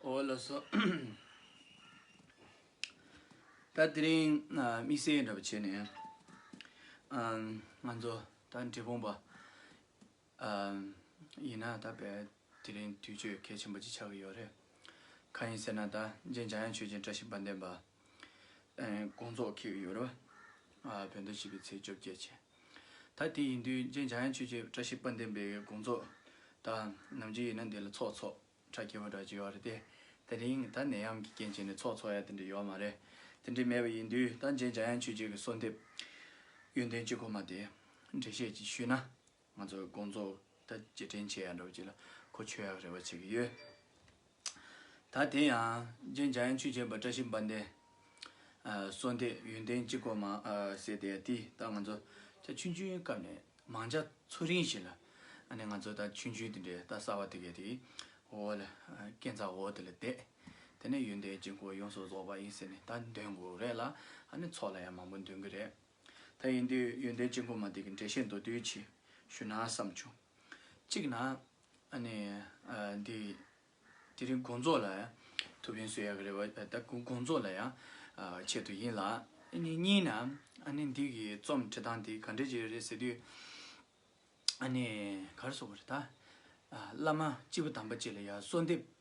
འོ་ལོ་སོ། ད་དེ་རིང་དམིགས་བསལ་འདྲ་པོ་བྱས་ནས། ང་ཚོ་ད་འབྲས་སྤུངས་པ། ཡིན་ན་ད་དེ་རིང་དུས་ཆོས་གལ་ཆེན་པོ་ཅིག་ཆགས་ཀྱི་ཡོད་རེད། གང་ཡིན་ཟེར་ན་ད་རྗེ་འཇམ་དབྱངས་ཆོས་རྗེ་བཀྲ་ཤིས་དཔལ་ལྡན་པ། དགོངས་རྫོགས་ཁེལ་ཡོད་རེད་བ། བོད་ཟླ་བཞི་པའི་ཚེས་བཅོ་བརྒྱད་ཆེ། ད་དེ་ཡིན་དུས་རྗེ་འཇམ་དབྱངས་ཆོས་རྗེ་བཀྲ་ཤིས་དཔལ་ལྡན་པའི་དགོངས་རྫོགས་དང་ནམ་རྗེ་ཡིན་ན་འདི་ལ་ཚོགས་ཚོགས་གྲ་རྒྱས་པ་འདྲ་བྱས་ཡོད་རེད་དེ། དེ་རིང་ད་ནད་ཡམས་ཀྱི་རྐྱེན་བྱས་ནས་ཚོགས་ཚོགས་ཡ་དེ་འདྲ་ཡོད་མ་རེད། དེ་འདྲ་མེད་པ་ཡིན་དུས་ད་རྗེ་འཇམ་དབྱངས་ཆོས་རྗེ་གི་གསོལ་འདེབས། ཡོན་ཏན་གཅིག་གོ་མ་དེ་འགྲེལ་བཤད་ཅིག་ཞུས་ན་ང་ཚོའི་དགོང་ཚོགས་ད་རྗེས་དྲན་བྱེད་ཡག་འགྲོ་བྱེད་ལ་གོ་ཆོད་ཡག་རེ་བ་བྱེད་ཀྱི་ཡོད། ད་དེ་ཡང་རྗེས་འཇགས་ཡང་ཆུ་བྱེད་པ་བཀྲ་ཤིས་དཔལ་ལྡན། བསོད་འདས་ཡོན་ཏན་གཅིག་གོ་མ་ཟེར་དེ་ཡང་དེ་ད་ང་ཚོ་ད་ཆུང་ཆུང་སྐབས་ནས་མང་ཆ་ཚུ་རིང་ཞིག་ལ་ཨ་ནེ་ང་ཚོ་ད་ཆུང་ཆུང་དེ་འདྲའི་ད་གསར་བ་དེ་གའི་དེ་འོ་ལ་རྐྱེན་རྩ་འོ་དེ་ལ་བསྡད། དེ་ནས་ཡོན་ཏན་གཅིག་གོ་ཡོངས་སུ་རྫོགས་པ་ཡིན་ཟེར་ནས་ད་འདོན་དགོས་རེད་ལ་ཨ་ནེ་ཚོགས་ལ་ཡང་མང་པོ་འདོན་གྱི་རེད། ད་ཡིན་དུས་ཡོན་ཏན་ཅན་ཁོ་མ་དེ་གི་འགྲེལ་བཤད་མདོར་བསྡུས་ཆེད་ཞུ་ན་བསམ་བྱུང། གཅིག་ན། ནི། འདི། དེ་རིང་དགོངས་རྫོགས་ལ། ཐུབ་བསྟན་བསོད་ཡག་གི་རེ་བ་ད་དགོངས་རྫོགས་ལ་ཡང། ཆེད་དུ་ཡིན་ལ། ནི་གཉིས་ན། ནི་འདི་གི་རྩོམ་འབྲི་སྟངས་དེ་ག་འདྲས་ཀྱི་རེད་ཟེར་དུས། ནི། གར་སོང་བ་རེད་ད། བླ་མ་སྤྱི་བོ་དམ་པ་བཅས་ལ་ཡང་གསོལ་འདེབས།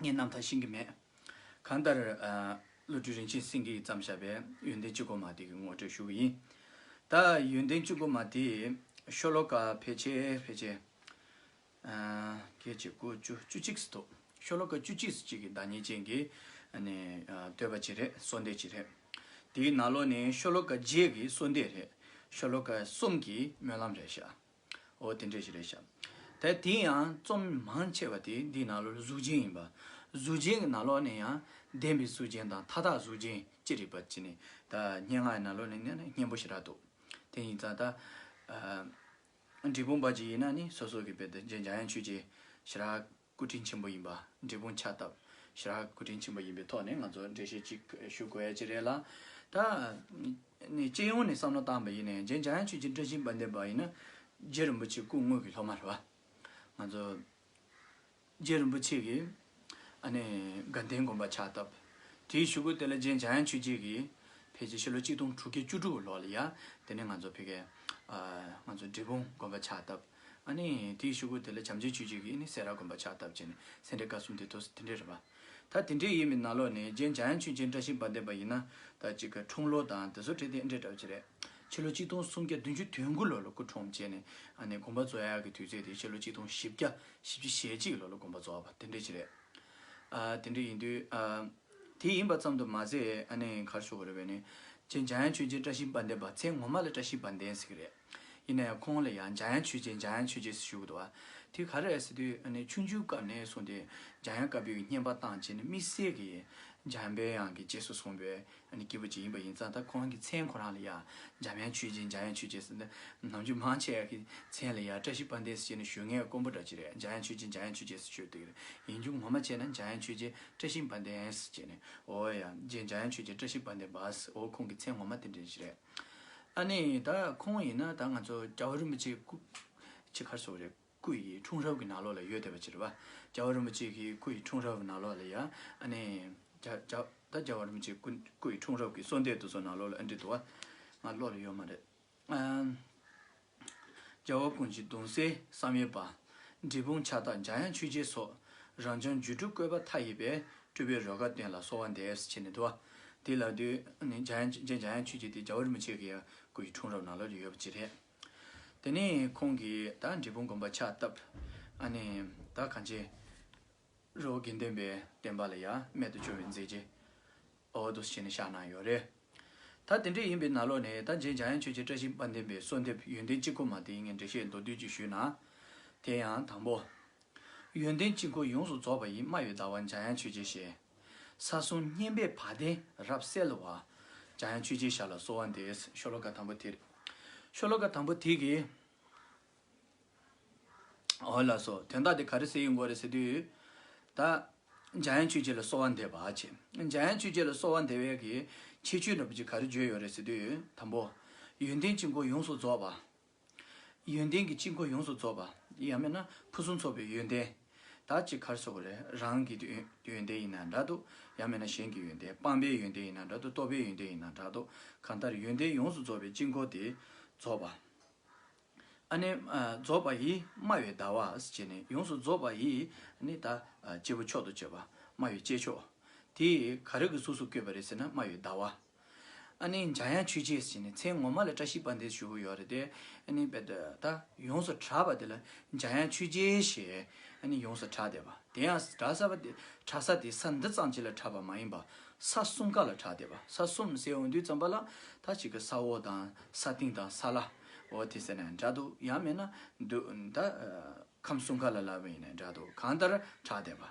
ངས་རྣམ་ཐར་ཤེས་ཀྱི་མེད། གང་ལྟར། བློ་གྲོས་རིན་ཆེན་སེང་གེ་ཡིས་བརྩམས་བཞག་པའི་ཡོན་ཏན་གཅིག་གོ་མ་དེ་གི་ངོ་སྤྲོད་ཞུ་གི་ཡིན། ད་ཡོན་ཏན་གཅིག་གོ་མ་དེ། ཤོ་ལོ་ཀ་ཕལ་ཆེ་ཕལ་ཆེ། སྐད་ཅིག་དགུ་བཅུ་བཅུ་གཅིག་སུ་ཐུག་ཤོ་ལོ་ཀ་བཅུ་གཅིག་སུ་གཅིག་གི་བདག་ཉིད་ཅན་གྱི། བསྟོད་པ་གཅིག་རེད་གསོལ་འདེབས་གཅིག་རེད། དེའི་ནང་ལོགས་ནས་ཤོ་ལོ་ཀ་བརྒྱད་ཀྱི་གསོལ་འདེབས་རེད། ཤོ་ལོ་ཀ་གསུམ་གྱི་སྨོན་ལམ་རེད་བཞག། ཨོ་དེ་འདྲས་ཤིག་རེད་བྱ། དེ་དེ་ཡང་རྩོམ་མང་ཆེ་བ་དེ་འདིའི་ནང་ལོགས་ལ་གཟུགས་ཅན་ཡིན་པ། གཟུགས་ཅན་གྱི་ནང་ལོགས་ནས་ཡང་བདེན་པའི་གཟུགས་ཅན་དང་མཐའ་དག་གཟུགས་ཅན་ཅི་རིགས་པ་ཅི་ནས་ད་སྙན་ངག་གི་ནང་ལོགས་ནས་ནི་སྙན་པོ་ཞིག་རག་འདུག་དེ་ཡིན་ཙང་ད། འབྲི་གུང་པ་ཅིག་ཡིན་ན་ནི་སོ་སོ་གི་བེད་འཇགས་ཡང་ཆོས་ཅན་ཞིག་རག། སྐུ་དྲིན་ཆེན་པོ་ཡིན་པ་འབྲས་སྤུངས་ཕྱག་བཏབ་ཞེས་རག་སྐུ་དྲིན་ཆེན་པོ་ཡིན་པའི་ཐོག་ནས་ང་ཚོ་འགྲེལ་བཤད་ཅིག་ཞུ་དགོས་ཡ་ཅི་རེད་ལ། ད། ནི་སྤྱི་ཡོངས་ནས་བསམ་བློ་བཏང་བ་ཡིན་ནས་རྗེ་འཇམ་དབྱངས་ཆོས་རྗེ་བཀྲ་ཤིས་དཔལ་ལྡན་པ་ཡིན་ན། རྗེ་རིན་པོ་ཆེ་སྐུ་དངོས་ཀྱི་སློབ་མ་རེད་བ། ང་ཚོ། རྗེ་རིན་པོ་ཆེ་གི། ཨ་ནི་དགའ་ལྡན་དགོན་པ་ཕྱག་བཏབ། དེའི་ཞུ་སྒོ་དེ་ལ་རྗེ་འཇམ་དབྱངས་ཆོས་རྗེ་གིས། ཕལ་ཆེར་ཕྱི་ལོ་གཅིག་སྟོང་དྲུག་བརྒྱ་བཅུ་དྲུག་ལོ་ལ་ཡ། དེ་ནས་ང་ཚོ་ཕི་གས། ཨ། ང་ཚོ་འབྲས་སྤུངས་དགོན་པ་ཕྱག་བཏབ། ཨ་ནི། དེའི་ཤུགས་ཀྱིས་དེ་ལ་བྱམས་བརྩེའི་ཆུས་བྱས་ཀྱིས་ནི་སེ་ར་དགོན་པར་ཕྱག་བཏབ་ཅེས་ནི་སེ་འབྲས་དཀར་གསུམ་དེ་ཐོས་སུ་དེ་འདྲས་རེད་པ། ད་དེ་འདྲས་ཡིན་མིན་ན་ལོ་ནི་རྗེ་འཇམ་དབྱངས་ཆོས་རྗེ་བཀྲ་ཤིས་དཔལ་ལྡན་པ་ཡིན་ན་ད་གཅིག་གི་འཁྲུངས་ལོ་དང་དེ་ཚོ་དྲིས་ཏེ་འདྲས་གྲབས་ཅི་རེད། ཕྱི་ལོ་གཅིག་སྟོང་སུམ་བརྒྱ་བདུན་ཅུ་དོན་དགུ་ལོ་ལ་སྐུ་འཁྲུངས་བྱས་ནི་ཨ་ནི་དགོན་པ་རྫོགས་ཡག་གི་དུས་ཚོད་དེ་ཕྱི་ལོ་གཅིག་སྟོང་བཞི་བརྒྱ་བཞི་བཅུ་ཞེ་གཅིག་ལོ་ལ་དགོན་པ་རྫོགས་པ་དེ་འདྲས་ཅི་རེད། ཨ་དེ་འདྲས་ཡིན་དུས་ཨ། དེ་ཡིན་པ་ཙམ་དུ་མ་ཟད་ཨ་ནི་གར་ཤོར་བ་རེད་བས་ནི་རྗེ་འཇམ་དབྱངས་ཆོས་རྗེ་བཀྲ་ཤིས་དཔལ་ལྡན་པ་ཚེ་ངོ་མ་ལ་བཀྲ་ཤིས་དཔལ་ལྡན་ཟེར་གྱི་རེད། ཡིན་ནས་ཁོང་ལ་ཡང་འཇའ་ཡང་ཆོས་རྗེ་འཇའ་ཡང་ཆོས་རྗེ་ཟེར་ཞུ་གི་འདུག་དེ་ག་རེད་ཟེར་དུས་ཆུང་ཆུང་སྐབས་ནས་བཟུང་སྟེ་འཇའ་ཡང་དཀར་པོའི་བསྙེན་པ་བཏང་རྗེས་ནས་དམིགས་བསལ་གྱི་འཇའ་ཡང་དཔལ་ཡང་གི་རྗེས་སུ་བཟུང་བའི་སྐྱེས་བུ་ཅིག་ཡིན་པ་ཡིན་ཙང་ད་ཁོང་གི་མཚན་ཁོ་རང་ལ་ཡང་འཇམ་ཡང་ཆོས་རྗེ་འཇའ་ཡང་ཆོས་རྗེ་ཟེར་ནས་ནམ་རྒྱུན་མང་ཆེ་བ་ཀྱི་མཚན་ལ་ཡང་བཀྲ་ཤིས་དཔལ་ལྡན་ཟེར་ནས་ཞུ་ངའི་དཀོན་པོ་འདྲ་ཅི་རེད་འཇའ་ཡང་ཆོས་རྗེ་འཇའ་ཡང་ཆོས་རྗེ་ཟེར་ཞུ་འདུག་གི་ཡིན་རྒྱུ་ངོ་མ་བྱས་ན་འཇའ་ཡང་ཆོས་རྗེ་བཀྲ་ཤིས་དཔལ་ལྡན་ཟེར་རྗེས་ནས་འོ་ཡ་རྗེ་འཇའ་ཡང་ཆོས་རྗེ་བཀྲ་ཤིས་དཔལ་ལྡན་པ་ཟེར་འོ་ཁོང་གི་མཚན་ངོ་མ་དེ་འདྲ་ཅི་རེད། ཨ་ནི་ད་ཁོང་ཡིན་ན་ད་ང་ཚོ་རྒྱ་བོད་རིན་པོ་ཆེ་སྐུ། ཆེ་ཁར་སོགས་རེད་སྐུ་ཡི་འཁྲུངས་རབས་ཀྱི་ནག་ལོག་ལ་ཡོད་བསྡད་པ་ཅི་རེད་བ། རྒྱ་བོད་རིན་པོ་ཆེ་གི་སྐུ་ཡི་འཁྲུངས་རབས་ནག་ལོག་ལ་ཡ་ཨ་ནི། རྒྱ་རྒྱ་ད་རྒྱ་བོད་རིན་པོ་ཆེ་སྐུ་སྐུ་ཡི་འཁྲུངས་རབས་ཀྱི་སོ་འདས་དུ་སོ་ནག་ལོག་ལ་ཨ་འདྲི་འདུག་བ། ང་བློ་ལ་ཡོད་མ་རེད། རྒྱལ་བ་ཀུན་གྱི་གདུང་སེལ་བསམ་ཡས་པ། འབྲི་སྤུངས་ཕྱག་རྟགས་འཇམ་དབྱངས་ཆོས་རྗེའི་སོགས། རང་བྱུང་རྒྱུད་དྲུག་བཀོད་པ་མཐའ་ཡས་པའི། སྤྲུལ་པའི་རོལ་གར་བསྟན་ལ་གསོལ་བ་འདེབས། ཅེས་ནས་བསྡུ་བ། དེ་ལ་བསྡུ། རྗེ་འཇམ་དབྱངས་ཆོས་རྗེ་དེ་རྒྱལ་བ་རིན་པོ་ཆེ་གི་སྐུ་ཡི་འཁྲུངས་རབས་ནང་ལོགས་ཀྱི་ཡོད་པ་གཅིག་རེད། དེ་ནས་ཁོང་གིས་ད་འབྲི་སྤུངས་དགོན་པ་ཕྱག་བཏབ། ད་གངས་ཅན། རོ་དགེ་ལྡན་པའི་བསྟན་པ་ལ་ཡང་རྨད་དུ་བྱུང་བའི་མཛད་རྗེས་འོ་དོ་ཞེས་ནས་བཞག་གནང་ཡོད་རེད། ད་དེ་འདྲ་ཡིན་པའི་ན་ལོ་ནས་ད་རྗེས་འཇམ་དབྱངས་ཆོས་རྗེ་བཀྲ་ཤིས་དཔལ་ལྡན་པའི་གསོལ་འདེབས་ཡོན་ཏན་གཅིག་གོ་མ་དེ་ངས་འགྲེལ་བཤད་མདོར་བསྡུས་ཀྱིས་ཞུས་ན། དེ་ཡང་དང་པོ། ཡོན་ཏན་གཅིག་གོ་ཡོངས་སུ་རྫོགས་པ་ཡི་སྨྲ་བའི་ཟླ་བ་འཇམ་དབྱངས་ཆོས་རྗེ་ཞེས། ས་གསུམ་སྙན་པའི་བ་དན་རབ་གསལ་བ། འཇམ་དབྱངས་ཆོས་རྗེའི་ཞབས་ལ་གསོལ་བ་འདེབས། ཤོ་ལོ་ཀ་དང་པོ་དེ། ཤོ་ལོ་ཀ་དང་པོ་དེ་གིས། འོ་ལ་སོ། དོན་དག་དེ་ག་རེ་ཟེར་ཡོད་འགོ་རེ་ཟེར་དུས། ད། འཇམ་དབྱངས་ཆོས་རྗེ་ལ་གསོལ་བ་འདེབས། འཇམ་དབྱངས་ཆོས་རྗེ་ལ་གསོལ་བ་འདེབས། གི་ཁྱེད་ཆོས་འདྲ་པོ་ཅིག་ག་རེ་བརྗོད་ཡོད་རེ་ཟེར་དུས། དང་པོ། ཡོན་ཏན་གཅིག་མཁོ་ཡོངས་སུ་རྫོགས་པ། ཡོན་ཏན་གྱི་གཅིག་མཁོ་ཡོངས་སུ་རྫོགས་པ། ཡང་མེད་ན་ཕུན་སུམ་ཚོགས་པའི་ཡོན་ཏན། དག་ཅིག་གར་སོགས་རེད། རང་གི་ཡོན་ཏན་ཡིན་ན་འདྲ་འདུག་ཡང་མེད་ན་གཞན་གྱི་ཡོན་ཏན་སྤངས་པའི་ཡོན་ཏན་ཡིན་ན་འདྲ་འདུག་རྟོགས་པའི་ཡོན་ཏན་ཡིན་ན་འདྲ་འདུག་གང་ལྟར་ཡོན་ཏན་ཡོངས་སུ་རྫོགས་པའི་གཅིག་མཁོ་དེ་རྫོགས་པ། ཨ་ནི། རྫོགས་པ་ཡིས་སྨྲ་བའི་ཟླ་བ། ཅེས་ནས་ཡོངས་སུ་རྫོགས་པ་ཡིས་ནི་ད། སྐྱེས་བུ་མཆོག་ཏུ་སྤྱོད་པ་སྨྲ་བའི་སྐྱེས་མཆོག། དེས་ག་རེ་གི་གཟུགས་སུ་བསྐོས་པ་རེད་ཟེར་ན་སྨྲ་བའི་ཟླ་བ། ཨ་ནི། འཇའ་ཡང་ཆོས་རྗེས་ཀྱི་ནི་མཚན་ངོ་མ་ལ་བཀྲ་ཤིས་པ་འདི་ཞུ་གི་ཡོད་རེད་དེ། ཨ་ནི། ད་ཡོངས་སུ་གྲགས་པ་དེ་ལ་འཇའ་ཡང་ཆོས་རྗེས་ཞེས་ཨ་ནི་ཡོངས་སུ་གྲགས་བསྡད་པ། དེ་ཡང་གྲགས་ས་པ་དེ་གྲགས་ས་དེ་ས་འདི་ཙམ་གྱི་ལ་གྲགས་པ་མ་ཡིན་པ། ས་གསུམ་ཀ་ལ་གྲགས་བསྡད་པ་ས་གསུམ་སའི་འོག་འདུས་ཙམ་པ་ལ་ད་གཅིག་གི་ས་འོག་དང་ས་སྟེང་དང་ས་བླ། འོ་དེ་ཟེར་ནས་འདྲ་འདུག་ཡང་མེད་ན་འདུག་ད་ཁམས་གསུམ་ག་ལ་ལ་བས་ནས་འདྲ་འདུག་གང་ལྟར་གྲགས་བསྡད་པ།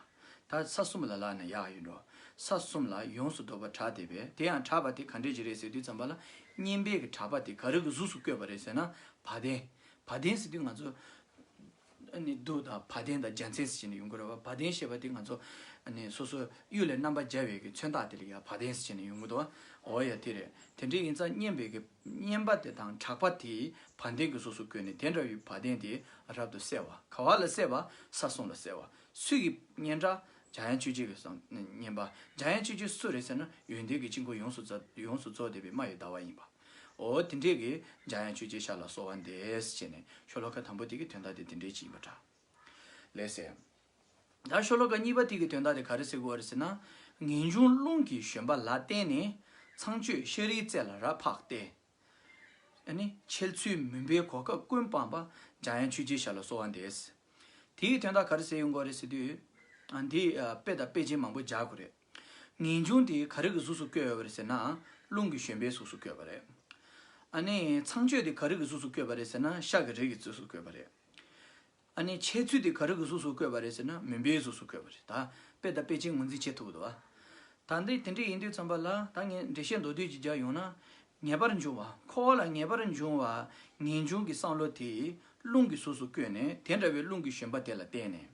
ད་ས་གསུམ་ལ་ལ་ནས་ཡག་ཡིན་འགྲོ། ས་གསུམ་ལ་ཡོངས་སུ་བཟློག་པ་གྲགས་བསྡད་པས་དེ་ཡང་གྲགས་པ་དེ་ག་འདྲས་ཀྱི་རེད་ཟེར་དུས་བརྩམས་པ་ལ་བསྙེན་པས་གྲགས་པ་དེ་ག་རིགས་ཀྱི་གཟུགས་སུ་བཀོད་པ་རེད་ཟེར་ན་བ་དན། བ་དན་ཟེར་དུས་ང་ཚོ། ནི་རྡོ་དང་བ་དན་དང་རྒྱ་མཚན་ཟེར་བྱས་ནས་ཡོང་གི་རེད་བ་བ་དན་ཞེས་པ་དེ་ང་ཚོ། ནི་སོ་སོའི་གཡུལ་ལས་རྣམ་པར་རྒྱལ་བའི་གི་མཚོན་རྟགས་དེ་ལས་ཀྱི་བ་དན་ཟེར་བྱས་ནས་ཡོང་གི་འདུག་བ། འོ་ཡ་དེ་རེད་དེ་འདྲའི་ཡིན་ཙང་བསྙེན་པའི་གི་བསྙེན་པ་དེ་དང་གྲགས་པ་དེས་བ་དན་གི་གཟུགས་སུ་བཀོད་ནས་དེ་འདྲ་བའི་བ་དན་དེ་རབ་ཏུ་གསལ་བ་ག་བ་ལ་གསལ་བ་ས་སྲུང་ལ་གསལ་བ་སུས་ཀྱི་བསྙེན་གྲགས་འཇམ་དབྱངས་ཆོས་རྗེ་གི་གསང་བསྙེན་པ་འཇམ་དབྱངས་ཆོས་རྗེ་སུ་རེད་ཟེར་ན་ཡོན་ཏན་གྱི་དཀྱིལ་འཁོར་ཡོངས་སུ་རྫོགས་བདེ་བའི་མ་ཡི་ཟླ་བ་ཡིན་པ། ཨོ་དེ་འདྲས་ཀྱི་འཇའ་ཡང་ཆོས་རྗེའི་ཞར་ལ་གསོལ་བ་འདེབས་ཅེས་ནས་ཤོ་ལོ་ཀ་དང་པོ་དེ་གི་དོན་དག་དེ་དེ་འདྲས་ཅི་ཡིན་པ་འདྲ། ལེགས་སེ། ད་ཤོ་ལོ་ཀ་གཉིས་པ་དེ་གི་དོན་དག་དེ་ག་རེ་ཟེར་དགོས་བ་རེད་ཟེར་ན། ངེས་འབྱུང་རླུང་གི་བཞོན་པ་ལ་བརྟེན་ནས་ཚངས་སྤྱོད་ཤ་རིའི་རྩེ་ལ་རབ་འཕགས་ཏེ། ནི། འཆལ་ཚུལ་མུན་པའི་གོ་སྐབས་ཀུན་སྤངས་པ་འཇའ་ཡང་ཆོས་རྗེའི་ཞར་ལ་གསོལ་བ་འདེབས། དེ་གི་དོན་དག་ག་རེ་ཟེར་ཡོང་དགོས་རེད་ཟེར་དུས། འདི་དཔེ་དང་དཔེ་ཅན་མང་པོ་སྦྱར་དགོས་རེད། ངེས་འབྱུང་དེ་ག་རིགས་ཀྱི་གཟུགས་སུ་བསྐྱོད་ཡོད་པ་རེད་ཟེར་ན་རླུང་གི་བཞོན་པའི་གཟུགས་སུ་བསྐྱོད་པ་རེད། ཨ་ནི་ཚངས་སྤྱོད་དེ་ག་རིགས་ཀྱི་གཟུགས་སུ་བསྐྱོད་པ་རེད་ཟེར་ན་ཤ་གི་རིགས་ཀྱི་གཟུགས་སུ་བསྐྱོད་པ་རེད། ཨ་ནི་འཆལ་ཚུལ་དེ་ག་རིགས་ཀྱི་གཟུགས་སུ་བསྐྱོད་པ་རེད་ཟེར་ན་མུན་པའི་གཟུགས་སུ་བསྐྱོད་པ་རེད་ད་དཔེ་དང་དཔེ་ཅན་ངོས་འཛིན་བྱེད་ཐུབ་དགོས་ད། ད་འདི་དེ་འདྲ་ཡིན་དུས་ཙམ་པ་ལ་ད་ངས་འགྲེལ་བཤད་མདོ་བསྡུས་ཀྱི་རྒྱབ་ཡོང་ན། ངེས་པར་འབྱུང་བ་ཁོ་བོ་ལ་ངེས་པར་འབྱུང་བ་ངེས་འབྱུང་གི་བསམ་བློ་དེ་རླུང་གི་གཟུགས་སུ་བསྐྱོད་ནས་དེ་འདྲ་བའི་རླུང་གི་བཞོན་པ་དེ་ལ་བརྟེན་ནས།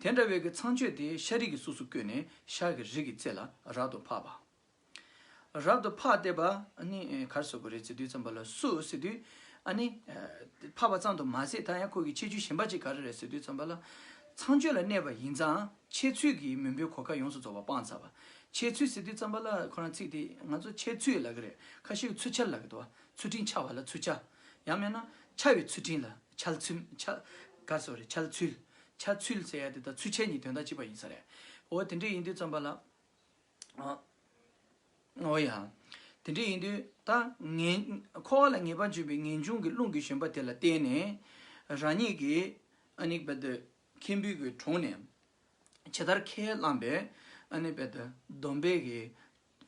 དེ་འདྲ་བའི་གི་ཚངས་སྤྱོད་དེ་ཤ་རིགས་ཀྱི་གཟུགས་སུ་བཀོད་ནས་ཤ་གི་རིགས་ཀྱི་རྩེ་ལ་རབ་ཏུ་འཕགས་པ། རབ་ཏུ་འཕགས་ཏེ་པ་ནི་གར་བཟོད་པོ་རེ་ཚེ་དུས་ཙམ་པ་ལ་སུ་སི་དུས་ཨ་ནི། འཕགས་པ་ཙམ་དུ་མ་ཟད་ད་ཡང་ཁོ་གི་ཆེ་ཆུ་གཞན་པ་གཅིག་གར་རེ་ཚེ་དུས་ཙམ་པ་ལ་ཚངས་སྤྱོད་ལ་གནས་པ་ཡིན་ཙང་འཆལ་ཚུལ་གྱིས་མུན་པའི་གོ་ཁ་ཡོངས་སུ་རྫོགས་པ་སྤང་ཚར་བ། འཆལ་ཚུལ་སི་དུས་ཙམ་པ་ལ་ཁོ་རང་ཚིག་དེ་ང་ཚོ་འཆལ་ཚུལ་ལ་གི་རེ་ཁ་ཤི་གི་ཚུལ་འཆལ་ལ་གི་དུ་བ་ཚུལ་ཁྲིམས་འཆལ་བ་ལ་ཚུལ་འཆལ། ཡང་མེད་ན། འཆལ་བའི་ཚུལ་ཁྲིམས་ལ་འཆལ་ཚུལ། འཆལ། Sorry། འཆལ་ཚུལ། འཆལ་ཚུལ་ཟེར་ཡ་དེ་དང་ཚུལ་འཆལ་གཉིས་དོན་དག་གཅིག་པ་ཡིན་ས་རེད། འོ་དེ་འདྲས་ཡིན་དུས་བརྩམས་པ་ལ། འོ་ཡ། དེ་འདྲས་ཡིན་དུས་ད། འཁོར་བ་ལ་ངེས་པར་འབྱུང་བའི་ངེས་འབྱུང་གི་རླུང་གི་བཞོན་པ་དེ་ལ་བརྟེན་ནས། རང་ཉིད་ཀྱི། ཁྱིམ་བུ་གྱི་དྲུང་ནས། ཇི་ལྟར་ཁས་བླངས་པའི། སྡོམ་པའི།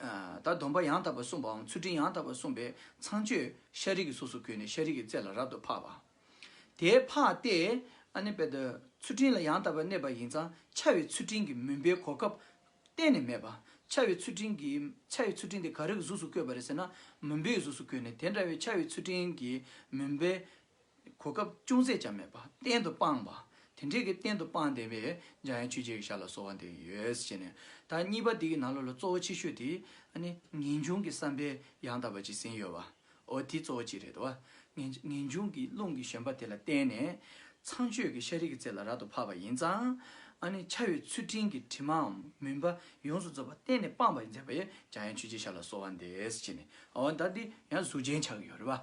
ད་སྡོམ་པ་ཡང་དག་པར་གསུངས་པའམ་ཚུལ་ཁྲིམས་ཡང་དག་པར་གསུངས་པའི་ཚངས་སྤྱོད་ཤཱ་རིའི་གཟུགས་སུ་གྱུར་ནས་ཤཱ་རིའི་རྩེ་ལ་རབ་ཏུ་འཕགས་པ། དེ་འཕགས་ཏེ། ཚུལ་ཁྲིམས་ལ་ཡང་དག་པར་གནས་པ་ཡིན་ཙང་འཕྱ་བའི་ཚུལ་ཁྲིམས་ཀྱི་མུན་པའི་གོ་སྐབས་གཏན་ནས་མེད་པ། འཕྱ་བའི་ཚུལ་ཁྲིམས་ཀྱི་འཕྱ་བའི་ཚུལ་ཁྲིམས་དེ་ག་རེ་གཟུགས་སུ་བཀོད་པ་རེད་ཟེར་ན་མུན་པའི་གཟུགས་སུ་གྱུར་ནས་དེ་འདྲ་བའི་འཕྱ་བའི་ཚུལ་ཁྲིམས་ཀྱི་མུན་པའི་གོ་སྐབས་ཅུང་ཟད་ཀྱང་མེད་པ་གཏན་དུ་སྤངས་པ། དེ་འདྲའི་གི་གཏན་དུ་སྤངས་བསྡད་པས་འཇམ་དབྱངས་ཆོས་རྗེ་གི་ཞར་ལ་གསོལ་བ་འདེབས་ཀྱི་ཡོད་ཟེར་བྱས་ནས་ད་གཉིས་པ་འདི་གི་ནང་ལོགས་ལ་གཙོ་བོ་ཆེ་ཤོས་དེ་ནི་ངེས་འབྱུང་གི་བསམ་པས་ཡང་དག་པ་ཅིག་ཟིན་ཡོད་པའོ་དེ་གཙོ་བོ་གཅིག་རེད་དོ། ངེས་འབྱུང་གི་རླུང་གི་བཞོན་པ་དེ་ལ་བརྟེན་ནས་ཚངས་སྤྱོད་ཀྱི་ཤ་རིགས་ཀྱི་རྩེ་ལ་རབ་ཏུ་འཕགས་པ་ཡིན་ཙང། ཕྱ་བའི་ཚུལ་ཁྲིམས་ཀྱི་དྲི་མའམ་མུན་པ་ཡོངས་སུ་རྫོགས་པ་གཏན་ནས་སྤངས་པ་ཡིན་ཟེར་བས་འཇམ་དབྱངས་ཆོས་རྗེ་ཞར་ལ་གསོལ་བ་འདེབས་ཟེར་བྱས་ནས་ད་འདི་ཡང་གཟུགས་ཅན་ཆགས་ཀྱི་ཡོད་རེད་པ།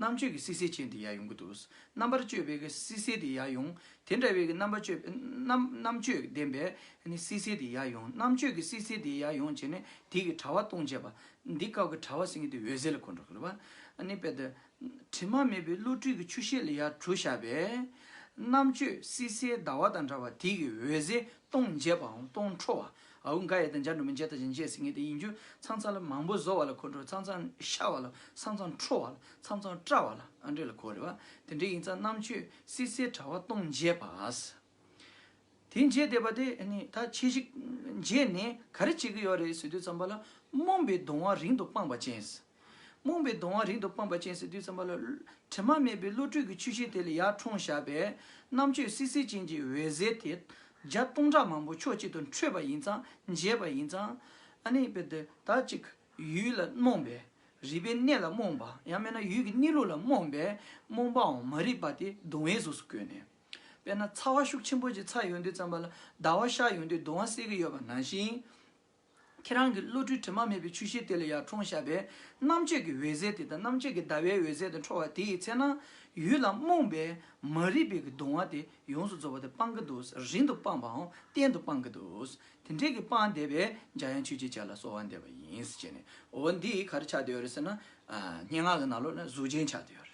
རྣམ་དཔྱོད་ཀྱི་སིསེ་ཅན་དེ་ཡ་ཡོང་གི་འདུག་རྣམ་པར་དཔྱོད་པའི་གི་སིསེ་དེ་ཡ་ཡོང། དེ་འདྲ་བའི་གི་རྣམ་པ་དཔྱོད་པའི་རྣམ་རྣམ་དཔྱོད་ལྡན་པའི་ནི་སིསེ་དེ་ཡ་ཡོང་རྣམ་དཔྱོད་ཀྱི་སིསེ་དེ་ཡ་ཡོང་བྱས་ནས་དེ་གི་དྲ་བ་སྟོང་བྱས་པ། འདི་སྐབས་ཀྱི་དྲ་བ་ཟིན་གི་དེ་འོད་ཟེར་ལ་གོ་འགྲོ་གི་རེད་པ། ནི་དཔེ་དེ། དྲི་མ་མེད་པའི་བློ་གྲོས་ཀྱི་ཆུ་ཤེལ་ལ་ཡ་གྲུ་བཞག་པས། རྣམ་དཔྱོད་སིསེ་ཟླ་བ་དང་འདྲ་བ་དེ་གི་འོད་ཟེར་སྟོང་འབྱེད་པའམ་སྟོང་འཕྲོ་བ། ཨའུ་འགའ་ཡེ་དང་འཇའ་འབྲུ་མི་འཇའ་དང་བཞིན་བྱས་ཟིན་ངེས་དེ་ཡིན་རྒྱུ། ཚང་ཚང་ལ་མང་པོ་བཟོ་བ་ལ་གོ་འགྲོ་ཚང་ཚང་ཤ་བ་ལ་ཚང་ཚང་ཁྲོ་བ་ལ་ཚང་ཚང་སྐྲ་བ་ལ་ཨ་འདྲེ་ལ་གོ་རེད་བ། དེ་འདྲེ་ཡིན་ཙང་རྣམ་དཔྱོད་སིལ་སིལ་དྲ་བ་སྟོང་མཇལ་བ། དེ་མཇལ་བསྡད་པ་དེ་ནི་ད་ཁྱེད་གཞིས་མཇལ་ནས་ག་རེ་བྱེད་ཀྱི་ཡོད་རེད་ཟེར་དུས་ཙམ་པ་ལ་རྨོངས་པའི་གདོང་བ་རིང་དུ་སྤངས་པ་ཅན། རྨོངས་པའི་གདོང་བ་རིང་དུ་སྤངས་པ་ཅན་ཟེར་དུས་ཙམ་པ་ལ། དྲི་མ་མེད་པའི་བློ་གྲོས་ཀྱི་ཆུ་ཤེལ་དེ་ལ་ཡར་འཁྲུངས་བཞག་པས། རྣམ་དཔྱོད་བསིལ་བསིལ་ཅན་གྱི་འོད་ཟེར་དེ། བརྒྱ་སྟོང་ཕྲག་མང་པོ་ཕྱོགས་གཅིག་ཏུ་འཕྲོས་པ་ཡིན་ཙང་མཇལ་བ་ཡིན་ཙང། ཨ་ནི། ད་ཅིག། ཡུལ་ལ་རྨོངས་པས། རིག་པའི་གནས་ལ་རྨོངས་པ། ཡང་མེད་ན་ཡུལ་གྱི་གནས་ལུགས་ལ་རྨོངས་པས། རྨོངས་པའང་མ་རིག་པ་དེ་གདུང་བའི་གཟུགས་སུ་བཀོད་ནས། དཔེར་ན་ཚ་བ་ཤུགས་ཆེན་པོ་ཞིག་ཚ་ཡོང་དུས་ཙམ་པ་ལ་ཟླ་བ་ཤར་ཡོང་དུས་གདུང་བ་སེལ་གྱི་ཡོད་པ་ནང་བཞིན། ཁྱེད་རང་གི་བློ་གྲོས་དྲི་མ་མེད་པའི་ཆུ་ཤེལ་དེ་ལ་ཡར་འཁྲོངས་བཞག་པས་རྣམ་དཔྱོད་ཀྱི་འོད་ཟེར་དེ་དང་རྣམ་དཔྱོད་ཀྱི་ཟླ་བའི་འོད་ཟེར་དེ་འཕྲོ་བ་དེའི་ཚེ་ན། ཡུལ་ལམ་རྨོངས་པའི་མ་རིག་པའི་གྱི་གདུང་བ་དེ་ཡོངས་སུ་རྫོགས་པ་དེ་སྤང་གི་འདུག་རིང་དུ་སྤངས་པའང་གཏན་དུ་སྤང་གི་འདུག་དེ་འདྲའི་གྱི་སྤངས་བསྡད་པས་འཇའ་ཡང་ཆོས་ཅེས་བྱ་ལ་གསོ་བ་འདེབས་པ་ཡིན། ཅེས་ནས་འོ་འདི་ག་རེ་ཆགས་བསྡད་ཡོད་རེད་ཟེར་ན། སྙན་ངག་གི་ནང་ལོགས་ན་གཟུགས་ཅན་ཆགས་བསྡད་ཡོད་རེད།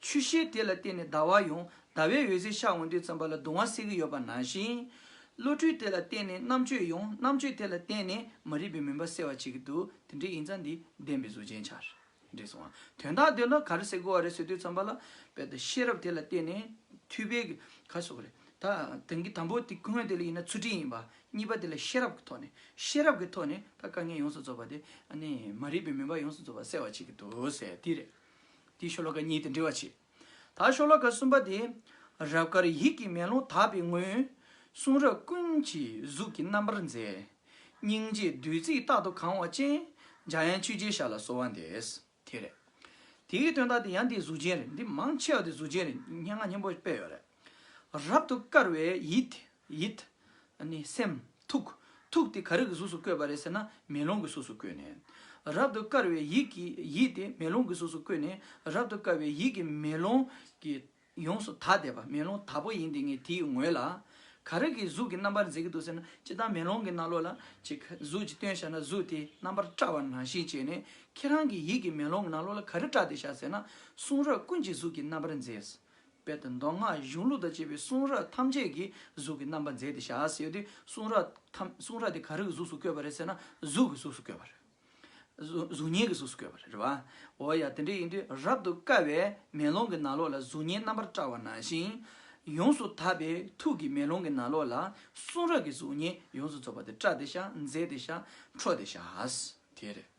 ཆུ་ཤེལ་དེ་ལ་བརྟེན་ནས་ཟླ་བ་ཡང་ཟླ་བའི་འོད་ཟེར་ཤར་འོང་དུས་ཙམ་པ་ལ་གདུང་བ་སེལ་གྱི་ཡོད་པ་ནང་བཞིན། བློ་གྲོས་དེ་ལ་བརྟེན་ནས་རྣམ་དཔྱོད་ཡང་རྣམ་དཔྱོད་དེ་ལ་བརྟེན་ནས་མ་རིག་པའི་མུན་པ་སེལ་བར་བྱེད་ཀྱི་འདུག་དེ་འདྲའི་ཡིག་ཚང་འདི་བདེན་པའི་གཟུགས་ཅན་འཆར། འདྲེས་སོང་བ། དོན་དག་འདོད་ན་ག་རེ་ཟེར་དགོས་བ་རེད་ཟེར་དུས་ཙམ་པ་ལ། དཔལ་དང་ཤེས་རབ་དེ་ལ་བརྟེན་ནས་འཐུས་པའི་ག་རེ་སོགས་རེད། ད་དེང་གི་དང་པོ་དེ་ཁོ་ངོས་དེ་ལ་ཡིན་ན་ཚུལ་ཁྲིམས་ཡིན་པ། གཉིས་པ་དེ་ལ་ཤེས་རབ་ཀྱི་ཐོག་ནས། ཤེས་རབ་ཀྱི་ཐོག་ནས་ད་དཀའ་ངལ་ཡོངས་སུ་རྫོགས་པ་དེ། ཨ་ནི་མ་རིག་པའི་མུན་པ་ཡོངས་སུ་རྫོགས་པ་སེལ་བར་བྱེད་ཀྱི་འདུག་ཟེར་དེ་རེད། དེའི་ཤོ་ལོ་ཀ་གཉིས་དེ་འདྲི་བར་བྱེད། ད་ཤོ་ལོ་ཀ་གསུམ་པ་དེ། རབ་དཀར་ཡིད་ཀྱི་མེ་ལོང་དག་པའི་ངོས། གསུང་རབ་ཀུན་གྱི་གཟུགས་ཀྱི་རྣམ་པར་མཛེས། སྙིང་རྗེའི་བདུད་རྩིས་རྟག་ཏུ་གང་བ་ཅན། འཇའ་ཡན་ཆུ་རྗེའི་ཞར་ལ་གསོལ་བ་འདེབས། དེ་རེད། དེའི་དོན་དག་དེ་ཡང་འདིའི་གཟུགས་ཅན་རེད། འདི་མང་ཆེ་བ་དེ་གཟུགས་ཅན་རེད། སྙན་ངག་སྙན་པོ་སྤེལ་ཡོད་རེད། རབ་ཏུ་དཀར་བའི་ཡིད་དེ། ཡིད། ནི་སེམས། ཐུགས། ཐུགས་དེ་ག་རེ་གི་གཟུགས་སུ་བཀོད་པ་རེད་ཟེར་ན་མེ་ལོང་གི་གཟུགས་སུ་བཀོད་ནས། རབ་ཏུ་དཀར་བའི་ཡིད་ཀྱིས་ཡིད་དེ་མེ་ལོང་གི་གཟུགས་སུ་བཀོད་ནས་རབ་ཏུ་དཀར་བའི་ཡིད་ཀྱིས་མེ་ལོང་གི། ཡོངས་སུ་དག་བསྡད་པ་མེ་ལོང་དག་པོ་ཡིན་དེ་ངས་དེའི་ངོས་ལ། ག་རེ་གི་གཟུགས་ཀྱི་རྣམ་པར་མཛད་ཀྱི་འདུག་ཟེར་ན་ཅི་ལྟར་མེ་ལོང་གི་རྣ་ལོགས་ལ་ཅིག་གཟུགས་ཅིག་སྟོན་བྱ་ན་གཟུགས་དེ་རྣམ་པར་བཀྲ་བ་ནང་བཞིན་བྱས་ནས་ཁྱེད་རང་གི་ཡིད་ཀྱི་མེ་ལོང་གི་རྣ་ལོགས་ལ་ག་རེ་བཀྲ་སྟེ་བཞག་ཟེར་ན་གསུང་རབ་ཀུན་གྱི་གཟུགས་ཀྱི་རྣམ་པར་མཛད། དཔལ་དང་མདོ་སྔགས་གཞུང་ལུགས་དང་བཅས་པའི་གསུང་རབ་ཐམས་ཅད་ཀྱི་གཟུགས་ཀྱི་རྣམ་པ་མཛད་དེ་བཞག་ཟེར་ཡོད་དུས་གསུང་རབ་ཐམས་གསུང་རབ་དེ་ག་རེ་གི་གཟུགས་སུ་བཀོད་པ་རེད་ཟེར་ན་གཟུགས་ཀྱི་གཟུགས་སུ་བཀོད་པ་རེད། གཟུགས་བརྙན་གྱི་གཟུགས་སུ་བཀོད་པ་རེད། འོ་ཡ་དེ་འདྲ་ཡིན་དུས་རབ་ཏུ་དཀར་བའི་མེ་ལོང་གི་ནང་ལོགས་ལ་གཟུགས་བརྙན་རྣམ་པར་བཀྲ་བ་ནང་བཞིན། ཡོངས་སུ་དག་པའི་ཐུགས་ཀྱི་མེ་ལོང་གི་ནང་ལོགས་ལ་གསུང་རབ་ཀྱི་གཟུགས་བརྙན་ཡོངས་སུ་རྫོགས་པ་དེ་བཀྲ་དེ་བཞག་མཛེས་དེ་བཞག་འཕྲོ་དེ་བཞག་དེ་རེད།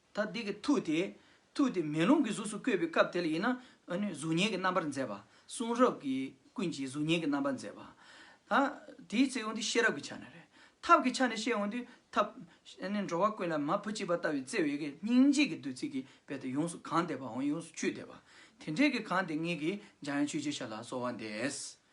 ད་དེ་གི་ཐུགས་དེ། ཐུགས་དེ་མེ་ལོང་གི་གཟུགས་སུ་བཀོད་པའི་སྐབས་དེ་ལ་ཡིན། གཟུགས་བརྙན་གྱི་རྣམ་པར་མཛད་པ། གསུང་རབ་ཀྱི་ཀུན་གྱིས་གཟུགས་བརྙན་གྱི་རྣམ་པར་མཛད་པ། དེའི་ཚེ་འོན་ཏེ་ཤེས་རབ་ཀྱི་ཆ་ནས་རེག། ཐབས་ཀྱི་ཆ་ནས་བཤད་འོན་ཏེ་ཐབས། འགྲོ་བ་ཀུན་ལ་མ་བུ་གཅིག་པ་ལྟ་བུའི་བརྩེ་བའི་གེགས་སྙིང་རྗེ་གི་བདུད་རྩི་གིས་རྦད་དེ་ཡོངས་སུ་གང་བདེ་བའང་ཡོངས་སུ་ཆུད་བདེ་བ། དེ་འདྲའི་གི་གང་དེ་ངེད་ཀྱིས་འཇམ་དབྱངས་ཆོས་རྗེ་ཤ་ལ་གསོལ་བ་འདེབས།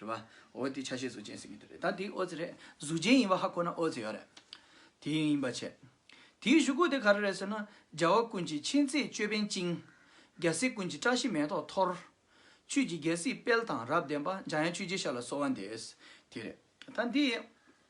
རེད་པ། འོ་དེ་ཆ་ཤས་གཟུགས་ཅན་ཟེར་གྱི་འདུག་རེད་ད་དེ་ཨོ་ཙེ་རེད་གཟུགས་ཅན་ཡིན་པ་ཧ་གོ་ན་ཨོ་ཙེ་ཡོད་རེད། དེ་ཡིན་པ་བྱས། དེའི་བཞུགས་སྒོ་དེ་ག་རེ་རེད་ཟེར་ན། རྒྱལ་བ་ཀུན་གྱི་མཁྱེན་བརྩེའི་ཅོད་པན་བཅིངས། རྒྱལ་སྲས་ཀུན་གྱི་བཀྲ་ཤིས་མེ་ཏོག་འཐོར། ཆོས་ཀྱི་རྒྱལ་སྲིད་དཔལ་དང་རབ་ལྡན་པ། འཇམ་དབྱངས་ཆོས་རྗེ་ཤར་ལ་གསོལ་བ་འདེབས། དེ་རེད། ད་འདི།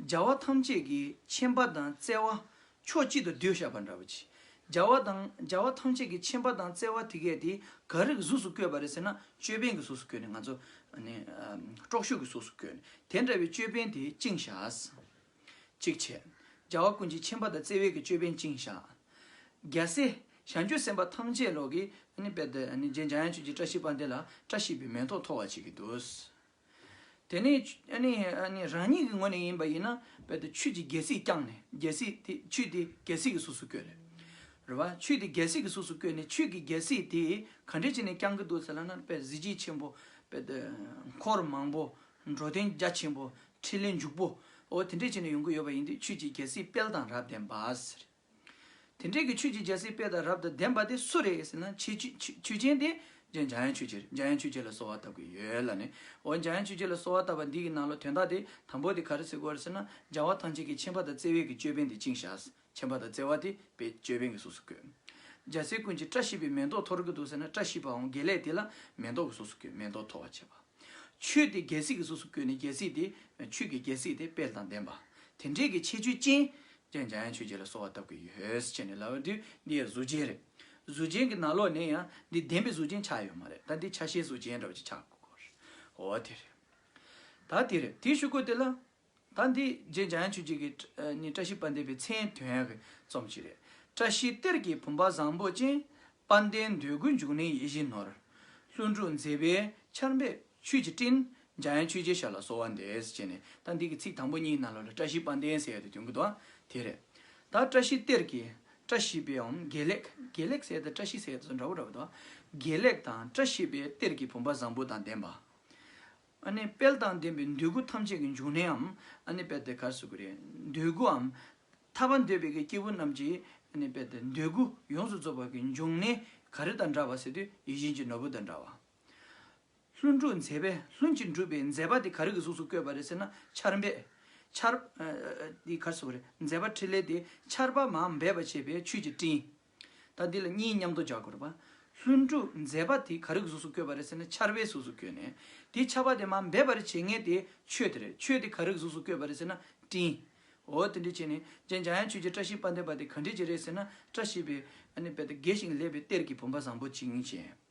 སྦྱར་བ་ཐམས་ཅད་ཀྱི་ཆེམས་པ་དང་བརྩེ་བ་ཕྱོགས་གཅིག་ཏུ་བསྡུས་བཞག་པ་འདྲ་བ་ཅི། སྦྱར་བ་དང་སྦྱར་བ་ཐམས་ཅད་ཀྱི་ཆེམས་པ་དང་བརྩེ་བ་དེ་གས་དེ་ག་རེ་གི་གཟུགས་སུ་བཀོད་པ་རེད་ཟེར་ན་ཅོད་པན་གྱི་གཟུགས་སུ་བཀོད་ནས་ང་ཚོ། དཀྲོག་ཤུགས་ཀྱི་གཟུགས་སུ་བཀོད་ནས་དེ་འདྲ་བའི་ཅོད་པན་དེ་བཅིངས་བཞག། གཅིག་བྱས། སྦྱར་བ་ཀུན་གྱི་ཆེམས་པ་དང་བརྩེ་བའི་གྱི་ཅོད་པན་བཅིངས་བཞག། རྒྱལ་སྲས་ཞལ་མཆོད་སེམས་དཔའ་ཐམས་ཅད་ལོག་གི། རྗེ་འཇམ་དབྱངས་ཆོས་ཀྱི་བཀྲ་ཤིས་པ་འདི་ལ་བཀྲ་ཤིས་པའི་མེ་ཏོག་འཐོར་བ་བྱེད་ཀྱི་འདུག། དེ་ནི་རང་ཉིད་ཀྱི་ངོས་ནས་ཡིན་པ་ཡིན་ན་རྦད་དེ་ཆུས་དེ་རྒྱལ་སྲིད་བསྐྱངས་ནས་རྒྱལ་སྲིད་དེ་ཆུས་དེ་རྒྱལ་སྲིད་ཀྱི་གཟུགས་སུ་བསྐྱོད་ནས་རེད་བ། ཆུས་དེ་རྒྱལ་སྲིད་ཀྱི་གཟུགས་སུ་བསྐྱོད་ནས་ཆུས་ཀྱི་རྒྱལ་སྲིད་དེ་ག་འདྲས་བྱས་ནས་བསྐྱངས་ཀྱི་འདུག་ཟེར་ལ་ན་རྦད་གཟི་བརྗིད་ཆེན་པོ་རྦད་དེ་འཁོར་མང་པོ་འགྲོ་དོན་རྒྱ་ཆེན་པོ་འཕྲིན་ལས་འཇུག་པོ་འོ་དེ་འདྲས་བྱས་ནས་ཡོང་གི་ཡོད་པ་ཡིན་དུས་ཆུས་ཀྱི་རྒྱལ་སྲིད་དཔལ་དང་རབ་ལྡན་པ་ཟེར། དེ་འབྲེལ་གྱི་ཆོས་ཀྱི་རྒྱལ་སྲིད་དཔལ་དང་རབ་དང་ལྡན་པ་དེ་སུ་རེད་ཟེར་ན་ཆོས་ཅན་དེ་འཇའ་ཡང་ཆོས་ཅན་རེད་འཇའ་ཡང་ཆོས་ཅན་ལ་གསོལ་བ་བཏབ་ཀྱི་ཡོད་ལ་ནི་འོ་འཇའ་ཡང་ཆོས་ཅན་ལ་གསོལ་བ་བཏབ་པ་འདི་ཡི་ནང་ལོ་དོན་དག་དེ་དང་པོ་དེ་ག་རེ་ཟེར་དགོས་རེད་ཟེར་ན་སྦྱར་བ་ཐམས་ཅད་ཀྱི་ཆེན་པ་དང་བརྩེ་བས་ཀྱི་ཅོད་པན་དེ་བཅིངས་བཞག་ཆེན་པ་དང་བརྩེ་བ་དེ་པའི་ཅོད་པན་གྱི་གཟུགས་སུ་བཀོད། འཇའ་ཟེར་ཀུན་གྱིས་བཀྲ་ཤིས་པའི་མེ་ཏོག་འཐོར་གྱི་འདུག་ཟེར་ན་བཀྲ་ཤིས་པའང་དགེ་ལེགས་དེ་ལ་མེ་ཏོག་གི་གཟུགས་སུ་བཀོད་མེ་ཏོག་འཐོར་བར་བྱེད་པ། ཆོས་དེ་རྒྱལ་སྲིད་ཀྱི་གཟུགས་སུ་བཀོད་ནས་རྒྱལ་སྲིད་དེ་ཆོས་ཀྱི་རྒྱལ་སྲིད་དེ་དཔལ་དང་ལྡན་པ། དེ་འབྲེལ་གྱི་ཆེ་ཆོས་ཅན། ཅན་འཇམ་དབྱངས་ཆོས་རྗེ་ལ་གསོལ་བ་བཏབ་ཀྱི་ཡོད། ཅེས་ནས་ལབ་བ་དེ་འདི་ཡི་གཟུགས་ཅན་རེད། གཟུགས་ཅན་གྱི་ནང་ལོགས་ནས་ཡང་འདི་བདེན་པའི་གཟུགས་ཅན་ཆགས་ཡོད་མ་རེད་ད་འདི་ཆ་ཤས་གཟུགས་ཅན་འདྲ་བ་ཅིག་ཆགས་དགོས་རེད། འོ་དེ་རེད། ད་དེ་རེད་དེ་ཞུ་དགོས་དེ་ལ། ད་འདི་རྗེ་འཇམ་དབྱངས་ཆོས་རྗེ་གི་ནི་བཀྲ་ཤིས་དཔལ་ལྡན་པའི་མཚན་དོན་གྱི་རྩོམ་ཅིག་རེད། བཀྲ་ཤིས་གཏེར་གྱི་བུམ་པ་བཟང་པོ་ཅན། དཔལ་ལྡན་འདོད་རྒུའི་འབྱུང་གནས་ཡིད་བཞིན་ནོར། ལྷུན་གྲུབ་མཛེས་པའི་ཆར་འབེབས། ཆོས་ཀྱི་སྤྲིན། འཇའ་ཡང་ཆོས་རྗེའི་ཞབས་ལ་གསོལ་བ་འདེབས། ཅེས་ནས་ད་འདི་གི་ཚིག་དང་པོ་གཉིས་ནང་ལོགས་ལས་བཀྲ་ཤིས་པ་འདེན་ཟེར་ཡོད་དེ་དོན་གྱི་དོན་དེ་རེད། ད་བཀྲ་ཤིས་གཏེར་གྱི། བཀྲ་ཤིས་པའི་འམ་དགེ་ལེགས། དགེ་ལེགས་ཟེར་དང་བཀྲ་ཤིས་ཟེར་སོགས་འདྲ་བོ་འདྲ་བོ་འདུག་ཨ། དགེ་ལེགས་དང་བཀྲ་ཤིས་པའི་གཏེར་གྱི་བུམ་པ་བཟང་པོ་དང་ལྡན་པ། ཨ་ནི་དཔལ་དང་ལྡན་པའི་འདོད་རྒུ་ཐམས་ཅད་ཀྱི་འབྱུང་གནས་འམ། ཨ་ནི་དཔལ་དེ་གར་གཟིགས་དགོས་རེད། འདོད་རྒུ་འམ། ཐར་པ་འདོད་པའི་གི་སྐྱེས་བུ་རྣམས་ཀྱིས། ཨ་ནི་དཔལ་དེ་འདོད་རྒུ་ཡོངས་སུ་རྫོགས་པ་གྱི་འབྱུང་གནས་ག་རེ་དང་འདྲ་བ་ཟེར་དུས་ཡིད་བཞིན་གྱི་ནོར་བུ་དང་འདྲ་བ། ལྷུན་གྲུབ་མཛད་པས་ལྷུན་གྱིས་འགྲུབ་པའི་མཛད་པ་དེ་ག་རེ་གི་གཟུགས་སུ་བཀོད་པ་རེད་ཟེར་ན་ཆར་འབེབས། ཆར། འདི་གར་སོགས་རེད། མཛད་པ་ཕྲིན་ལས་དེ་ཆར་པ་མ་འབེབས་པ་བྱེད་པའི་ཆུས་ཀྱི་སྤྲིན། ད་འདི་ལ་གཉིས་མཉམ་དུ་སྦྱར་དགོས། ལྷུན་གྲུབ་མཛད་པ་དེ་ག་རེ་གི་གཟུགས་སུ་བཀོད་པ་རེད་ཟེར་ན་ཆར་བའི་གཟུགས་སུ་བཀོད་ནས། དེ་ཆར་པ་དེ་མ་འབེབས་པར་བྱེད་ངེས་དེ་ཆོས་དེ་རེད་ཆོས་དེ་ག་རེ་གི་གཟུགས་སུ་བཀོད་པ་རེད་ཟེར་ན་སྤྲིན། འོ་དེ་འདྲས་བྱས་ནས་རྗེ་འཇམ་དབྱངས་ཆོས་རྗེ་བཀྲ་ཤིས་དཔལ་ལྡན་པ་དེ་ག་འདྲས་ཀྱི་རེད་ཟེར་ན་བཀྲ་ཤིས་པའི་དཔལ་དང་དགེ་ཞིང་ལེགས་པའི་གཏེར་གྱི་བུམ་པ་བཟང་པོ་གཅིག་ཡིན་ཞེས།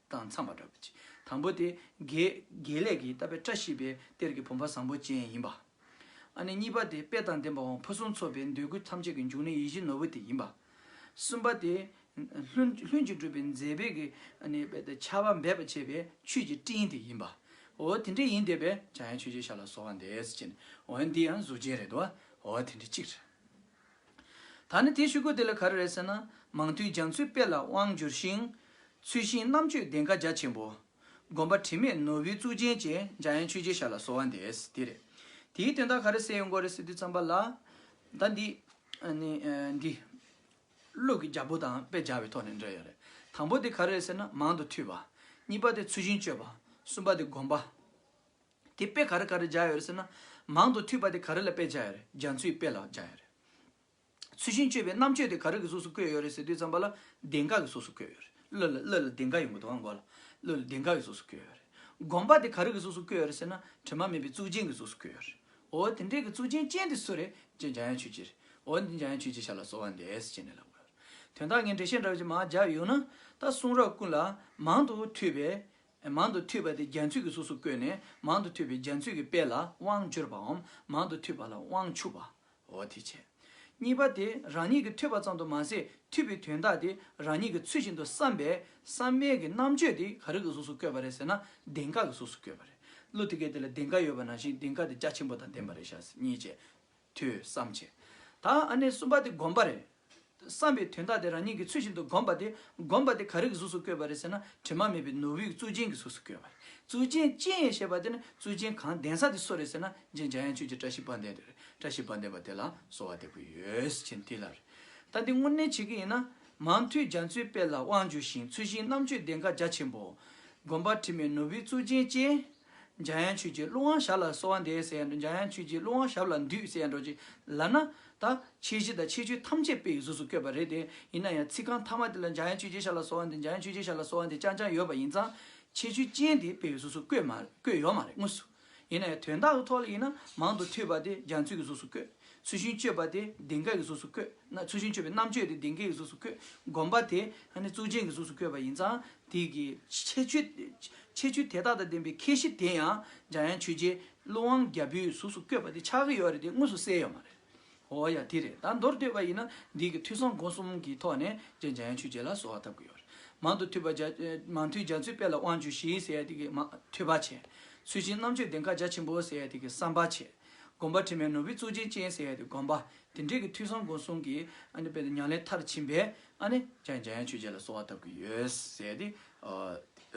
དང་འཚམས་པ་འདྲ་བ་གཅིག་དང་པོ་དེ། དགེ་ལེགས་ཀྱིས་བཏབ་པའི་བཀྲ་ཤིས་པའི་གཏེར་གྱི་བུམ་པ་བཟང་པོ་ཅན་ཡིན་པ། ཨ་ནི་གཉིས་པ་དེ་དཔལ་དང་ལྡན་པ་དབང་ཕུན་སུམ་ཚོགས་པའི་འདོད་དགུ་ཐམས་ཅད་ཀྱི་འབྱུང་གནས་ཡིད་བཞིན་ནོར་བུ་དེ་ཡིན་པ། གསུམ་པ་དེ། ལྷུན་གྱིས་གྲུབ་པའི་མཛེས་པའི་གྱི་ཨ་ནི་ཆར་བ་འབེབས་པར་བྱེད་པའི་ཆུས་ཀྱི་སྤྲིན་དེ་ཡིན་པའོ། དེ་འདྲ་ཡིན་དེ་བས་ཀྱང་ཡང་ཆོས་རྗེའི་ཞར་ལ་སོགས་བ་འདས་ཟེར་བྱས་ནས་འོ་ཡང་འདི་ཡང་གཟུགས་ཅན་རེད་དོ། འོ་དེ་འདྲ་གཅིག། ད་ནི་དེའི་ཤུལ་རྒོད་དེ་ལ་ག་རེ་རེད་ཟེར་ན། མང་ཐོས་རྒྱ་མཚོའི་དཔེ་ལ་དབང་བསྒྱུར་ཞིང། ཚུལ་ཤིང་རྣམ་དཔྱོད་གདེངས་ཀ་རྒྱ་ཆེན་པོ། དགོན་པ་དྲི་མེད་ནོར་བུའི་གཙུག་རྒྱན་བཅས་འཇའ་ཡན་ཆོས་རྗེའི་ཞར་ལ་སོ་བ་འདས་དེ་རེད། དེའི་དོན་དག་ག་རེ་གསལ་ཡོང་དགོས་རེད་ཟེར་དུས་བརྩམས་པ་ལ། ད་འདི། ནི། འདི། ཀླུ་གི་རྒྱལ་པོ་དང་དཔེ་སྦྱར་བའི་ཐོག་ནས་འབྲེལ་ཡོད་རེད། དང་པོ་དེ་ག་རེ་རེད་ཟེར་ན་མང་དུ་ཐོས་པ། གཉིས་པ་དེ་ཚུལ་ཤིང་སྤྱོད་པ། གསུམ་པ་དེ་དགོན་པ། དེ་དཔེ་ག་རེ་ག་རེ་སྦྱར་ཡོད་རེད་ཟེར་ན། མང་དུ་འཐུས་པ་དེ་ག་རེ་ལ་དཔེ་སྦྱར་ཡོད་རེད་རྒྱ་མཚོའི་དཔེ་ལ་སྦྱར་ཡོད་རེད། ཚུལ་ཤིང་སྤྱོད་པའི་རྣམ་དཔྱོད་དེ་ག་རེ་གི་གཟུགས་སུ་བཀོད་ཡོད་རེད་ཟེར་དུས་ཙམ་པ་ལ་གདེངས་ཀ་གི་གཟུགས་སུ་བཀོད་ཡོད་རེད་གླུ་ལ་གླུ་ལ་གདེངས་ཀ་ཡོད་དགོས་འདུག་ག་མགོ་ལ་གླུ་ལ་གདེངས་ཀ་གི་གཟུགས་སུ་བཀོད་ཡོད་རེད། དགོན་པ་དེ་ག་རེ་གི་གཟུགས་སུ་བཀོད་ཡོད་རེད་ཟེར་ན་དྲི་མ་མེད་པའི་གཙུག་རྒྱན་གྱི་གཟུགས་སུ་བཀོད་ཡོད་རེད། འོ་དེ་འདྲའི་གི་གཙུག་རྒྱན་ཅན་དེ་སུ་རེད་ཅེས་འཇམ་དབྱངས་ཆོས་རྗེ་རེད། འོ་འདི་འཇམ་དབྱངས་ཆོས་རྗེ་ཤར་ལ་གསོལ་བ་འདེབས་ཅེས་ནས་ལབ་དགོས་ཡོད་རེད། དོན་དག་ངས་འགྲེལ་བཤད་འདྲ་བོ་ཅིག་མང་སྦྱར་ཡོད་ན། ད་གསུང་རབ་ཀུན་ལ་མང་དུ་འཐུས་པའི་མང་དུ་ཐོས་པ་དེ་རྒྱ་མཚོས་ཀྱི་གཟུགས་སུ་བཀོད་ནས་མང་དུ་ཐོས་པའི་རྒྱ་མཚོས་ཀྱི་དཔལ་ལ་དབང་འབྱོར་པའམ་མང་དུ་ཐོས་པ་ལ་དབང་ཕྱུག་པའོ། དེ་བྱས། གཉིས་པ་དེ་རང་ཉིད་ཀྱིས་ཐོས་པ་ཙམ་དུ་མ་ཟད་ཐོས་པའི་དོན་དག་དེ་རང་ཉིད་ཀྱིས་ཚུལ་བཞིན་དུ་བསམས་པས་བསམ་མེད་ཀྱི་རྣམ་དཔྱོད་དེ་ག་རིགས་ཀྱི་གཟུགས་སུ་བཀོད་པ་རེད་ཟེར་ན་གདེངས་ཀ་གི་གཟུགས་སུ་བཀོད་པ་རེད། གླུ་དེ་སྐད་དེ་ལ་གདེངས་ཀ་ཡོད་པ་ནང་བཞིན་གདེངས་ཀ་དེ་རྒྱ་ཆེན་པོ་དང་ལྡན་པ་རེད་བྱ། གཉིས་བྱས། ཐོས་བསམ་བྱས། ད་ཨ་ནེ་གསུམ་པ་དེ་སྒོམ་པ་རེད། བསམ་པའི་དོན་དག་དེ་རང་ཉིད་ཀྱི་ཚུལ་བཞིན་དུ་སྒོམ་པ་དེ་སྒོམ་པ་དེ་ག་རིགས་གཟུགས་སུ་བཀོད་པ་རེད་ཟེར་ན་དྲི་མ་མེད་པའི་ནོར་བུའི་གཙུག་རྒྱན་གྱི་གཟུགས་སུ་བཀོད་པ་རེད་གཙུག་རྒྱན་སྤྱན་ཞེས་པ་དེ་ནི་གཙུག་རྒྱན་གང་གདན་ས་དེ་སུ་རེད་ཟེར་ན་རྗེ་འཇམ་དབྱངས་ཆོས་ཀྱི་བཀྲ་ཤིས་པ་འདས་དེ་རེད་བཀྲ་ཤིས་པ་འདས་པ་དེ་ལ་གསོལ་བ་འདེབས་ཀྱི་ཡོད་ཅེས་འདི་ལ་རེད། ད་འདི་དངོས་གནས་བྱེད་ཀྱི་ཡིན་ན། མང་མཐུས་རྒྱ་མཚོའི་དཔལ་ལ་དབང་འབྱོར་ཞིང་ཚུལ་ཤིང་གནམ་ཆོས་གདེངས་ཀ་རྒྱ་ཆེན་པོ། སྒོམ་པ་དྲི་མེད་ནོར་བུའི་གཙུག་རྒྱན་སྤྱན། འཇའ་ཡང་ཆོས་ཀྱི་ཀླུ་དབང་ཞབས་ལ་གསོལ་བ་འདེབས་ཟེར་ཡང་འགྲོ་འཇའ་ཡང་ཆོས་ཀྱི་ཀླུ་དབང་ཞབས་ལ་འདུད་ཟེར་ཡང་འགྲོ་ཅིག་ལབ་ན། ད་ཁྱེད་གཞི་དང་ཁྱེད་ཆོས་ཐམས་ཅད་དཔེ་ཡི་གཟུགས་སུ་བཀོད་པ་རེད་དེ། ཡིན་ན་ཡང་ཚིག་རྐང་ཐ་མ་དེ་ལ་འཇའ་ཡང་ཆོས་རྗེ་ཞབས་ལ་གསོལ་བ་འདེབས་འཇའ་ཡང་ཆོས་རྗེ་ཞབས་ལ་གསོལ་བ་འདེབས་ཅང་ཅང་ཡོད་པ་ཡིན་ཙང། ཁྱེད་ཆོས་ཅན་དེ་དཔེ་ཡི་གཟུགས་སུ་བཀོད་མ་བཀོད་ཡོད་མ་རེད་དངོས་སུ། ཡིན་ན་ཡང་དོན་དག་གི་ཐོག་ལ་ཡིན་ན་མང་དུ་ཐོས་པ་དེ་རྒྱ་མཚོའི་གཟུགས་སུ་བཀོད། ཚུལ་ཤིང་གཅོད་པ་དེ་གདེངས་ཀ་ཡི་གཟུགས་སུ་བཀོད། ཚུལ་ཤིང་གཅོད་པའི་རྣམ་དཔྱོད་དེ་གདེངས་ཀའི་གཟུགས་སུ་བཀོད། སྒོམ་པ་དེ་ཧ་ནི་གཙུག་རྒྱན་གྱི་གཟུགས་སུ་བཀོད་པ་ཡིན་ཙང། དེ་ཡི་ཁྱད་ཆོས་ཁྱད་ཆོས་དེ་དག་དང་ལྡན་པའི་ཁྱད་གཞི་དེ་ཡང་འཇམ་དབྱངས་ཆོས་རྗེ་ཀླུ་དབང་རྒྱལ་པོའི་གཟུགས་སུ་བཀོད་པ་དེ་ཆགས་ཀྱི་ཡོད་རེད་དེ་དངོས་སུ་གསལ་ཡོད་མ་རེད། འོ་ཡ་དེ་རེད་ད་མདོར་བསྡོད་པ་ཡིན་ན་འདི་གི་ཐོས་བསམ་སྒོམ་གསུམ་གྱི་ཐོག་ནས་རྗེ་འཇམ་དབྱངས་ཆོས་རྗེ་ལ་གསོལ་བ་བཏབ་ཀྱི་ཡོད་རེད་མང་དུ་ཐོས་པ་རྒྱ་མང་ཐོས་རྒྱ་མཚོའི་དཔལ་ལ་དབང་བཅུ་ཞི་ཟེར་ཡ་དེ་གི་མ་ཐོས་པ་བྱས་ཚུལ་བཞིན་རྣམ་དཔྱོད་ལྡན་ཁ་རྒྱ་ཆེན་པོ་ཟེར་ཡ་དེ་གི་བསམ་པ་བྱས་དགོན་པ་དྲི་མེད་ནོར་བུའི་གཙུག་རྒྱན་ཅན་ཟེར་ཡ་དེ་དགོན་པ་དེ་འདྲས་ཀྱི་ཐོས་བསམ་སྒོམ་གསུམ་གྱི་ཉང་ལེ་མཐར་ཕྱིན་པའི་ཨ་ནི་ཅག་འཇམ་དབྱངས་ཆོས་རྗེ་ལ་གསོལ་བ་བཏབ་ཀྱི་ཡོད་ཟེར་ཏེ་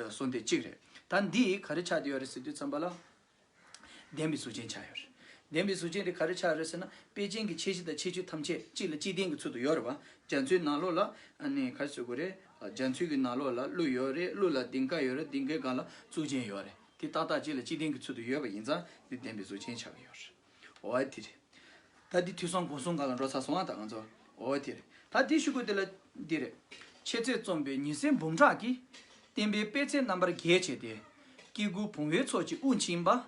གསུངས་དེ་གཅིག་རེད། ད་འདིས་ག་རེ་ཆགས་ཀྱི་ཡོད་རེད་ཟེར་དུས་བརྩམས་པ་ལ། བདེན་པའི་གཟུགས་ཅན་ཆགས་ཡོད་རེད། བདེན་པའི་གཟུགས་ཅན་དེ་ག་རེ་ཆགས་རེད་ཟེར་ན་དཔེ་ཅན་གྱི་ཆེ་བཞི་དང་ཆེ་བཅུ་ཐམས་ཅད་གཅིག་ལ་གཅིག་བརྟེན་གྱི་ཚུལ་དུ་ཡོད་རེད་བ། རྒྱ་མཚོའི་ནང་ལོགས་ལ་ཨ་ནི་ག་རེ་བཟོས་དགོས་རེད། རྒྱ་མཚོའི་གི་ནང་ལོགས་ལ་ཀླུ་ཡོད་རེད་ཀླུ་ལ་ལྡིང་ཀ་ཡོད་རེད་ལྡིང་ཀའི་སྒང་ལ་གཟུགས་ཅན་ཡོད་རེད་དེ་ཏག་ཏག་གཅིག་ལ་གཅིག་བརྟེན་གྱི་ཚུལ་དུ་ཡོད་པ་ཡིན་ཙང་འདི་བདེན་པའི་གཟུགས་ཅན་ཆགས་ཀྱི་ཡོད་རེད། འོ་ཨེ་ཐི། ད་འདི་དུས་སོང་གོང་སོང་ག་ལ་འགྲོ་ཚར་སོང་ཨ་ད་ང་ཚོ། འོ་ཨེ་ཐི། ད་འདི་ཞུ་དགོས་དེ་ལ་འདི་རེད། ཆེ་ཚད་རྩོམ་པའི་ཉི་ཟེར་འབུམ་ཕྲག་གིས། བསྟན་པའི་པད་ཚལ་རྣམ་པར་རྒྱས་བྱས་ཏེ། སྐྱེ་དགུ་བུང་བའི་ཚོགས་ཀྱི་དབུགས་འབྱིན་པ།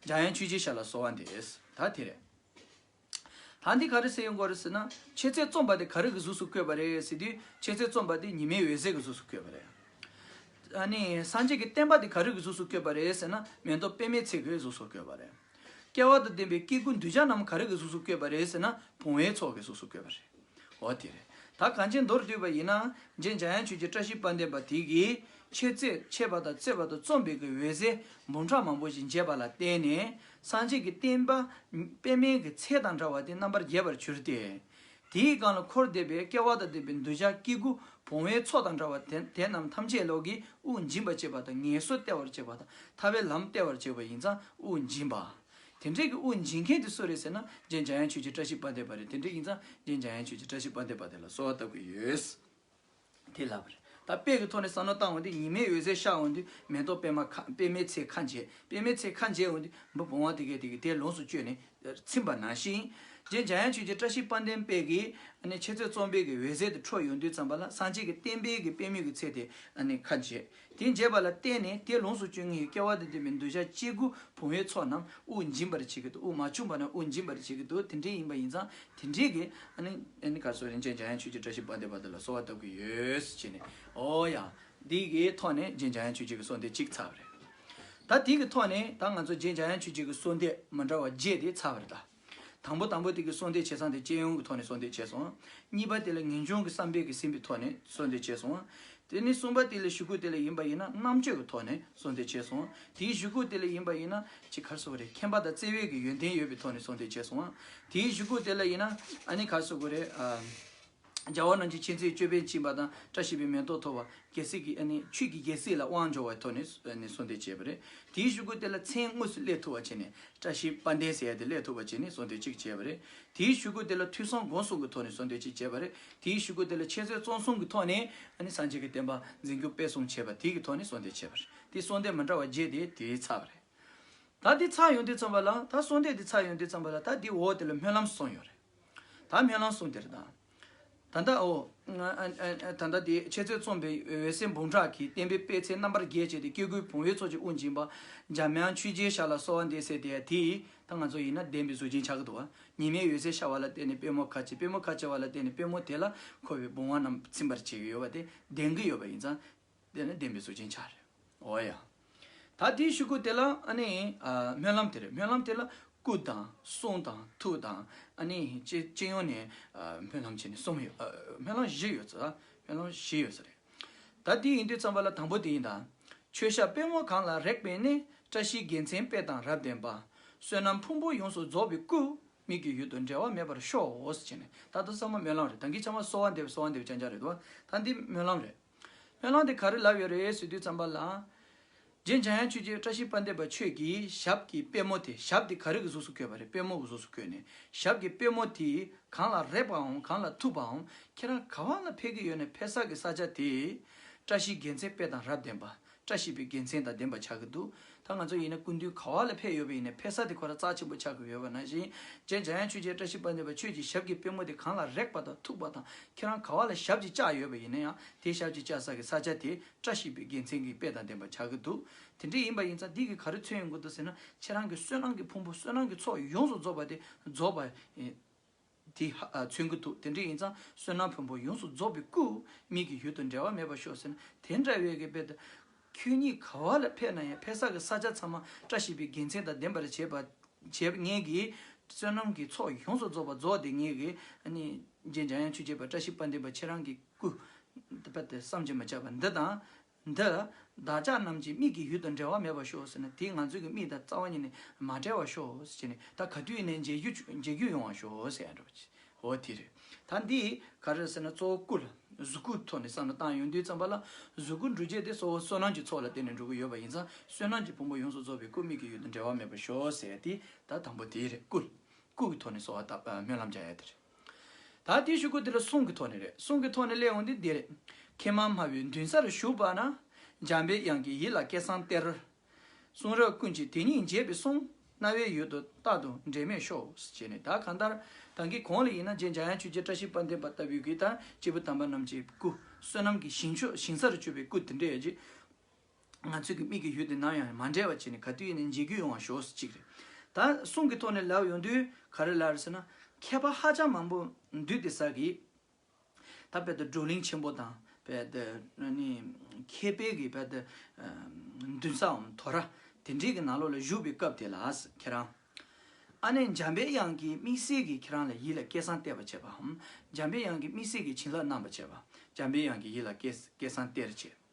འཇའ་ཡན་ཆུ་བྱའི་ཤ་ལ་གསོ་བ་འདེས་ད་དེ་རེད། ད་འདི་ག་རེ་ཟེར་ཡོང་གོ་རེ་ཟེར་ན། ཆེ་ཚད་རྩོམ་པ་དེ་ག་རེ་གི་གཟུགས་སུ་བཀོད་པ་རེད་ཟེར་དུས་ཆེ་ཚད་རྩོམ་པ་དེ་ཉི་མའི་འོད་ཟེར་གྱི་གཟུགས་སུ་བཀོད་པ་རེད། ཨ་ནི། སངས་རྒྱས་ཀྱི་བསྟན་པ་དེ་ག་རེ་གི་གཟུགས་སུ་བཀོད་པ་རེད་ཟེར་ན། མེ་ཏོག་པད་མའི་ཚལ་གྱི་གཟུགས་སུ་བཀོད་པ་རེད། སྐལ་བ་དང་ལྡན་པའི་སྐྱེ་དགུ་འདུལ་བྱ་རྣམས་ག་རེ་གི་གཟུགས་སུ་བཀོད་པ་རེད་ཟེར་ན་བུང་བའི་ཚོགས་ཀྱི་གཟུགས་སུ་བཀོད་པ་རེད། འོ་དེ་རེད་ད་གངས་ཅན་མདོར་བསྡུས་པ་ཡིན་ན་རྗེ་འཇམ་དབྱངས་ཆོས་ཀྱི་བཀྲ་ཤིས་དཔལ་ལྡན་པ་དེ་གིས་ཆེ་བརྩེགས་མཆེད་པ་དང་བརྩེ་བ་དང་རྩོམ་པའི་གི་འོད་ཟེར་འབུམ་ཕྲག་མང་པོ་ཞིག་འབྱེད་པ་ལ་བརྟེན་ནས་སངས་རྒྱས་ཀྱི་བསྟན་པ་པདྨའི་གི་ཚལ་དང་འདྲ་བ་དེ་རྣམ་པར་རྒྱས་པར་གྱུར་ཏེ། དེའི་སྒང་ལ་འཁོར་འདས་པའི་སྐལ་བ་དང་ལྡན་པའི་འདོད་ཆགས་སྐྱེ་དགུ་བོང་བའི་ཚོགས་དང་འདྲ་བ་དེ་རྣམས་ཐམས་ཅད་ལོག་གི་དབུགས་འབྱིན་པར་བྱེད་པ་དང་ངལ་གསོ་སྟེར་བར་བྱེད་པ་དང་ཐར་བའི་ལམ་སྟེར་བར་བྱེད་པ་ཡིན་ཙང་དབུགས་འབྱིན་པ། དེ་འདྲེས་ཀྱི་དབུགས་འབྱིན་མཁན་དེ་སུ་རེད་ཟེར་ན་རྗེ་འཇམ་དབྱངས་ཆོས་རྗེ་བཀྲ་ཤིས་པ་འདས་པ་རེད་དེ་འདྲེས་ཡིན་ཙང་རྗེ་འཇམ་དབྱངས་ཆོས་རྗེ་བཀྲ་ཤིས་པ་འདས་པ་དེ་ལ་གསོལ་བ་བཏབ་ཀྱི་ཡོད། དེ་ལབ་པ་རེད། ད་དཔེ་གི་ཐོག་ནས་བསམ་བློ་བཏང་འོན་ཏེ་ཉི་མའི་འོད་ཟེར་ཤར་འོན་དུས་མེ་ཏོག་པད་མ་ཁ་པད་མའི་ཚེ་ཁ་འབྱེད་པད་མའི་ཚེ་ཁ་འབྱེད་འོན་དུས་འབུ་བོང་བ་དེ་གས་དེ་གས་དེ་ལོངས་སུ་སྤྱོད་ནས་ཚིམ་པ་ནང་བཞིན། རྗེ་འཇམ་དབྱངས་ཆོས་རྗེ་བཀྲ་ཤིས་དཔལ་ལྡན་དཔལ་གྱིས་ཨ་ནི་ཆེ་བཙན་གཙོ་འབེལ་གྱི་འོད་ཟེར་དེ་འཕྲོ་ཡོང་དུས་བརྩམས་པ་ལ་སངས་རྒྱས་ཀྱི་བསྟན་འཕེལ་གྱི་པད་མོས་ཀྱི་ཚེ་དེ་ཨ་ནི་ཁ་འབྱེད་དེ་འབྱེད་པ་ལ་བརྟེན་ནས་དེ་ལོངས་སུ་སྤྱོད་ངེས་ཡོད་སྐལ་བ་དང་ལྡན་པའི་འདོད་ཆགས་སྐྱེ་དགུ་བུང་བའི་ཚོགས་རྣམས་དབུགས་འབྱིན་པར་བྱེད་ཀྱི་འདུག་དབུགས་མ་ཕྱུང་བ་རྣམས་དབུགས་འབྱིན་པར་བྱེད་ཀྱི་འདུག་དེ་འདྲའི་ཡིན་པ་ཡིན་ཙང་དེ་འདྲའི་གི། ནི་གར་སོགས་རིན་ཆེན་འཇམ་དབྱངས་ཆོས་ཀྱི་བཀྲ་ཤིས་པ་འདི་བར་དོ་ལ་གསོལ་བ་བཏབ་ཀྱི་ཡོད། ཅེས་ནས། ཨོ་ཡ། འདི་གི་ཐོག་ནས་རྗེ་འཇམ་དབྱངས་ཆོས་རྗེ་གི་གསོལ་འདེབས་གཅིག་ཚར་བ་རེད། ད་དེ་གི་ཐོག་ནས་ད་ང་ཚོ་རྗེ་འཇམ་དབྱངས་ཆོས་རྗེ་གི་གསོལ་འདེབས་མ་འདྲ་བ་བརྒྱད་དེ་ཚར་བ་རེད་ད། དང་པོ་དང་པོ་དེ་གི་གསོལ་འདེབས་བྱས་ཚང་དེ་སྤྱན་ཡོངས་ཀྱི་ཐོག་ནས་གསོལ་འདེབས་བྱས་སོང། གཉིས་པ་དེ་ལ་ངེས་འབྱུང་གི་བསམ་འཕེལ་གྱིས་ཟིན་པའི་ཐོག་ནས་གསོལ་འདེབས་བྱས་སོང། དེ་ནས་གསུམ་པ་དེ་ལས་བཞུགས་ཁུག་དེ་ལ་ཡིན་པ་ཡིན་ན་རྣམ་དཔྱོད་ཀྱི་ཐོག་ནས་གསོལ་འདེབས་བྱས་སོང། དེའི་བཞུགས་ཁུག་དེ་ལ་ཡིན་པ་ཡིན་ན་ཅི་གར་སོགས་རེད་མཁྱེན་པ་དང་བརྩེ་བས་ཀྱི་ཡོན་ཏན་ཡོད་པའི་ཐོག་ནས་གསོལ་འདེབས་བྱས་སོང། དེའི་བཞུགས་ཁུག་དེ་ལ་ཡིན་ན་ཨ་ནི་གར་སོགས་རེད། རྒྱལ་བ་རྣམས་ཀྱི་ཆེ་ཚེའི་ཅོད་པན་བཅིངས་པ་དང་བཀྲ་ཤིས་པའི་མེ་ཏོག་འཐོར་བ། རྒྱལ་སྲིད་ཀྱི་ཆོས་ཀྱི་རྒྱལ་སྲིད་ལ་དབང་འབྱོར་བའི་ཐོག་ནས་གསོལ་འདེབས་བྱས་པ་རེད། དེའི་ཞུ་སྐུལ་དེ་ལ་མཚན་དངོས་སུ་སླེབས་ཐུབ་པ་བྱས་ནས་བཀྲ་ཤིས་པ་འདས་ཟེར་ཡ་དེ་སླེབས་ཐུབ་པ་བྱས་ནས་གསོལ་འདེབས་ཅིག་བྱས་པ་རེད། དེའི་ཞུ་སྐུལ་དེ་ལ་ཐུགས་གསང་དགོངས་གསོལ་གྱི་ཐོག་ནས་གསོལ་འདེབས་ཅིག་བྱས་པ་རེད། དེའི་ཞུ་སྐུལ་དེ་ལ་འཆད་རྩོད་རྩོམ་གསུམ་གྱི་ཐོག་ནས་སངས་རྒྱས་ཀྱི་བསྟན་པ་འཛིན་རྒྱུ་སྤེལ་གསུམ་བྱས་པ་དེའི་ཐོག་ནས་གསོལ་འདེབས་བྱས་པ་རེད། དེ་གསོལ་འདེབས་མ་འདྲ་བ་བརྒྱད་དེ་དེའི་ཚགས་པ་རེད། ད་དེ་ཚགས་ཡོང་དུས་བརྩམས་པ་ལ་ད་གསོལ་འདེབས་དེ་ཚགས་ཡོང་དུས་བརྩམས་པ་ལ་ད་དེའི་འོག་དེ་ལ་སྨོན་ལམ་གསུངས་ཡོད་རེད། ད་སྨོན་ལམ་གསུང་དེར་དང། ད་ལྟ་འོ། ད་ལྟ་དེ་འཆད་རྩོད་རྩོམ་པའི་འོད་ཟེར་འབུམ་ཕྲག་གིས་བསྟན་པའི་པད་ཚལ་རྣམ་པར་རྒྱས་བྱས་ཏེ་སྐྱེ་དགུའི་བུང་བའི་ཚོགས་ཀྱི་དབུ་འབྱིན་པ། འཇམ་དབྱངས་ཆོས་རྗེའི་ཞར་ལ་གསོལ་བ་འདེབས་སའི་དེ་ཡང་དེའི། ད་ང་ཚོ་ཡིན་ན་བདེན་པའི་གཟུགས་ཅན་ཕྱག་གི་དུ་བ། ཉི་མའི་འོད་ཟེར་ཤར་བ་ལ་བརྟེན་ནས་པད་མོ་ཁ་ཕྱེ་པད་མོ་ཁ་ཕྱེ་བ་ལ་བརྟེན་ནས་པད་མོ་དེ་ལ་འཁོར་བའི་བུང་བ་རྣམས་ཚིམ་པར་བྱེད་ཀྱི་ཡོད་པ་དེ་བདེན་གྱི་ཡོད་པ་ཡིན་ཙང། དེ་ནི་བདེན་པའི་གཟུགས་ཅན་ཆ་རེད། འོ་ཡ། ད་དེའི་ཤུགས་ཀུན་དེ་ལ་ཨ་ནི། སྨོན་ལམ་དེ་རེད་སྨོན་ལམ་དེ་ལ་སྐུ་དང་གསུང་དང་ཐུགས་དང་ཨ་ནི་སྤྱི་ཡོངས་ནས་སྨོན་ལམ་བྱས་ནས་གསུམ་ཡོད། སྨོན་ལམ་བཞི་ཡོད། སྨོན་ལམ་བཞི་ཡོད་ས་རེད། ད་དེ་ཡིན་དུས་ཙམ་པ་ལ་དང་པོ་དེ་ཡིན་ད། ཆོས་ཞབས་པད་མོ་གང་ལ་རེག་པས་ནི་བཀྲ་ཤིས་དགེ་མཚན་དཔལ་དང་རབ་ལྡན་པ། བསོད་ནམས་ཕུང་པོ་ཡོངས་སུ་རྫོགས་པའི་སྐུ། མིག་གི་ཡུལ་དུ་འབྲལ་བ་མེད་པར་ཤོག་ཨོ་ཟེར་བྱས་ནས་ད་ད་ས་མ་སྨོན་ལམ་རེད་ད་གིས་ཆ་མ་གསོལ་བ་འདེབས་གསོལ་བ་འདེབས་ཅང་ཅང་རེད་དོ། ད་འདི་སྨོན་ལམ་རེད། སྨོན་ལམ་དེ་ག་རེ་ལབ་ཡོད་རེད་ཟེར་དུས་བརྩམས་པ་ལ། རྗེ་འཇམ་དབྱངས་ཆོས་རྗེ་བཀྲ་ཤིས་དཔལ་འདེབས་པ་ཆོས་ཀྱི་ཞབས་ཀྱི་པད་མོ་དེ་ཞབས་དེ་ག་རེ་གི་གཟུགས་སུ་བཀོད་པ་རེད་པད་མོ་གི་གཟུགས་སུ་བཀོད་ནས་ཞབས་ཀྱི་པད་མོ་དེ་གང་ལ་རེག་པའམ་གང་ལ་ཐུག་པའམ་ཁྱེད་རང་ག་བ་ལ་ཕེབས་ཀྱི་ཡོད་ནས་ཕེབས་ས་གི་ས་ཆ་དེ། བཀྲ་ཤིས་དགེ་མཚན་དཔལ་དང་རབ་བརྟན་པདྨ་བཀྲ་ཤིས་པའི་དགེ་མཚན་དང་ལྡན་པ་ཆགས་ཀྱི་འདུག་ད་ང་ཚོ་ཡིན་ན་སྐུ་མདུན་ག་བ་ལ་ཕེབས་ཡོད་པ་ཡིན་ནས་ཕེབས་ས་དེ་ཁོ་ར་རྩ་ཆེན་པོ་ཆགས་ཀྱི་ཡོད་པ་ནང་བཞིན་རྗེ་འཇམ་དབྱངས་ཆོས་རྗེ་བཀྲ་ཤིས་པ་འདི་པ་ཆོས་ཀྱི་ཞབས་ཀྱི་པད་མོ་དེ་གང་ལ་རེག་པ་དང་ཐུག་པ་དང་ཁྱེད་རང་ག་བ་ལ་ཞབས་ཀྱི་བཅགས་ཡོད་པ་ཡིན་ན་ཡང་དེ་ཞབས་ཀྱི་བཅགས་ས་ཀྱི་ས་ཆ་དེ་བཀྲ་ཤིས་པའི་དགེ་མཚན་གྱི་དཔེ་དང་ལྡན་པ་ཆགས་ཀྱི་འདུག་དེ་འདྲ་ཡིན་པ་ཡིན་ཙང་འདི་གི་ག་རེ་མཚོན་ཡོང་གི་འདུག་ཟེར་ན་ཁྱེད་རང་གི་བསོད་ནམས་ཀྱི་ཕུང་པོ་བསོད་ནམས་ཀྱི་ཚོགས་ཡོངས་སུ་རྫོགས་པ་དེ་རྫོགས་པ། དེ་ཧ་མཚོན་གྱི་འདུག་དེ་འདྲ་ཡིན་ཙང་བསོད་ནམས་བོན་པོ་ཡོངས་སུ་རྫོགས་པའི་སྐུ་ཉིད་ཀྱི་ཡུལ་དུ་འབྲལ་བ་མེད་པར་ཤོག་ཟེར་ན་དེ་འདྲ་བའི་གི་དཔེ་དང། ཁྱོད་ཉིད་ག་བ་ལ་ཕེབས་ན་ཡང་ཕེབས་ས་གི་ས་ཆ་ཚང་མ་བཀྲ་ཤིས་པའི་དགེ་མཚན་དང་ལྡན་པར་བྱེད་པར་ངེས་ཀྱི། བསོད་ནམས་ཀྱི་ཚོགས་ཡོངས་སུ་རྫོགས་པར་རྫོགས་ཏེ་ངེས་ཀྱི། རྗེ་འཇམ་དབྱངས་ཆོས་རྗེ་པ་བཀྲ་ཤིས་པ་ལྡན་པ་ཁྱེད་རང་གི་སྐུ། བསམ་གྱིས་མ་ཁྱབ་པ་འདི་དང། འདི་བདག་ཅག་རྣམས་ཀྱི་མིག་གི་ཡུལ་དང་འབྲལ་བ་མེད་པར་ཤོག་ཟེར་ནས་དེས་ང་ཚོའི་གི་མིག་དང་རྩ་བ་གཉིས་ནི་མ་བྲལ་བར་ཤོག་ཅེས་ནས་ད་ག་དུས་ནས་མཇལ་རྒྱུ་ཡོང་བར་ཤོག་ཟེར་ཡང་འགྲོ། འོ་དེ་རེད། ད་འདི་ག་རེད་ཟེར་ན་གཙོ་བོ་སྐུ་ལ་གཟུགས་སྐུ་ཐོག་ནས་བསམ་བློ་བཏང་ཡོང་དུས་བརྩམས་པ་ལ་གཟུགས་སྐུ་འབྲུ་བརྒྱད་དེ་གཙོ་བོ་བསོད་ནམས་ཀྱི་ཚོགས་ལ་བརྟེན་ནས་འགྲོ་གི་ཡོད་པ་ཡིན་ཙང་བསོད་ནམས་ཀྱི་ཕུང་པོ་ཡོངས་སུ་རྫོགས་པའི་སྐུ་མིག་གི་ཡུལ་དང་འབྲལ་བ་མེད་པར་ཤོག་ཟེར་ཡ་དེ་ད་དང་པོ་དེ་རེད་སྐུ་ལ་སྐུ་གི་ཐོག་ནས་གསོལ་བ་བཏབ་སྨོན་ལམ་རྒྱག་ཡ་དེ་རེད། ད་དེ་བཞུགས་སྒོ་འདི་ལ་གསུང་གི་ཐོག་ནས་རེད་གསུང་གི་ཐོག་ནས་གླེང་བ་ནི་འདི་རེད། མཁས་མང་སྨྲ་བའི་མདུན་སར་བཞུགས་པ་ན། འཇམ་པའི་དབྱངས་ཀྱིས་ཡིད་ལ་སྐད་གསང་སྟེར། གསུང་རབ་ཀུན་གྱི་དེ་ཉིད་འབྱེད་པའི་གསུང། རྣ་བའི་ཡུལ་དུ་རྟག་ཏུ་འབྲལ་མེད་ཤོག། ཅེས་ནས་ད་གང་ལྟར་གང་གི་གོང་ལ་ཡིན་ན་རྗེ་འཇམ་དབྱངས་ཆོས་རྗེ་བཀྲ་ཤིས་དཔལ་ལྡན་པ་ལྟ་བུའི་གུས་དང་སྐྱེས་བུ་དམ་པ་རྣམས་ཀྱི་སྐུ། བསོད་ནམས་ཀྱི་ཞིང་མཆོག་ཞིང་སར་སྤྱོད་པའི་སྐུ་དེ་འདྲ་ཡོད་ཅེས། ང་ཚོས་ཀྱི་མིག་གི་ཡུལ་དེ་ནམ་ཡང་མ་འབྲལ་བ་བྱས་ནས་ག་དུས་ཡིན་ནའི་མཇལ་རྒྱུ་ཡོང་བ་ཞོགས་ཅིག་རེད་ད། གསུང་གི་ཐོག་ནས་ལབ་ཡོང་དུས་ག་རེ་ལབ་རེད་ཟེར་ན། མཁས་པ་ཧ་ཅང་མང་པོ་འདུས་ཏེ་ས་གི། ད་དཔལ་ལྡན་བགྲོ་གླིང་ཆེན་པོ་དང་དཔལ་ལྡན་ནི། མཁས་པའི་གི་དཔལ་ལྡན། མདུན་སའམ་དོ་ར་དེ་འདྲའི་གི་ནང་ལོགས་ལ་བཞུགས་པའི་སྐབས་དེ་ལ་ཁྱེད་རང། ཨ་ནེ་འཇམ་པའི་དབྱངས་ཀྱི་དམིགས་བསལ་གྱི་ཁྱེད་རང་ལ་ཡིད་ལ་སྐད་གསང་གཏད་པ་བྱས་པའམ། འཇམ་པའི་དབྱངས་ཀྱི་དམིགས་བསལ་གྱི་བྱིན་རླབས་གནང་བ་བྱས་པ། འཇམ་པའི་དབྱངས་ཀྱི་ཡིད་ལ་སྐད་གསང་གཏད་རེ་བྱས།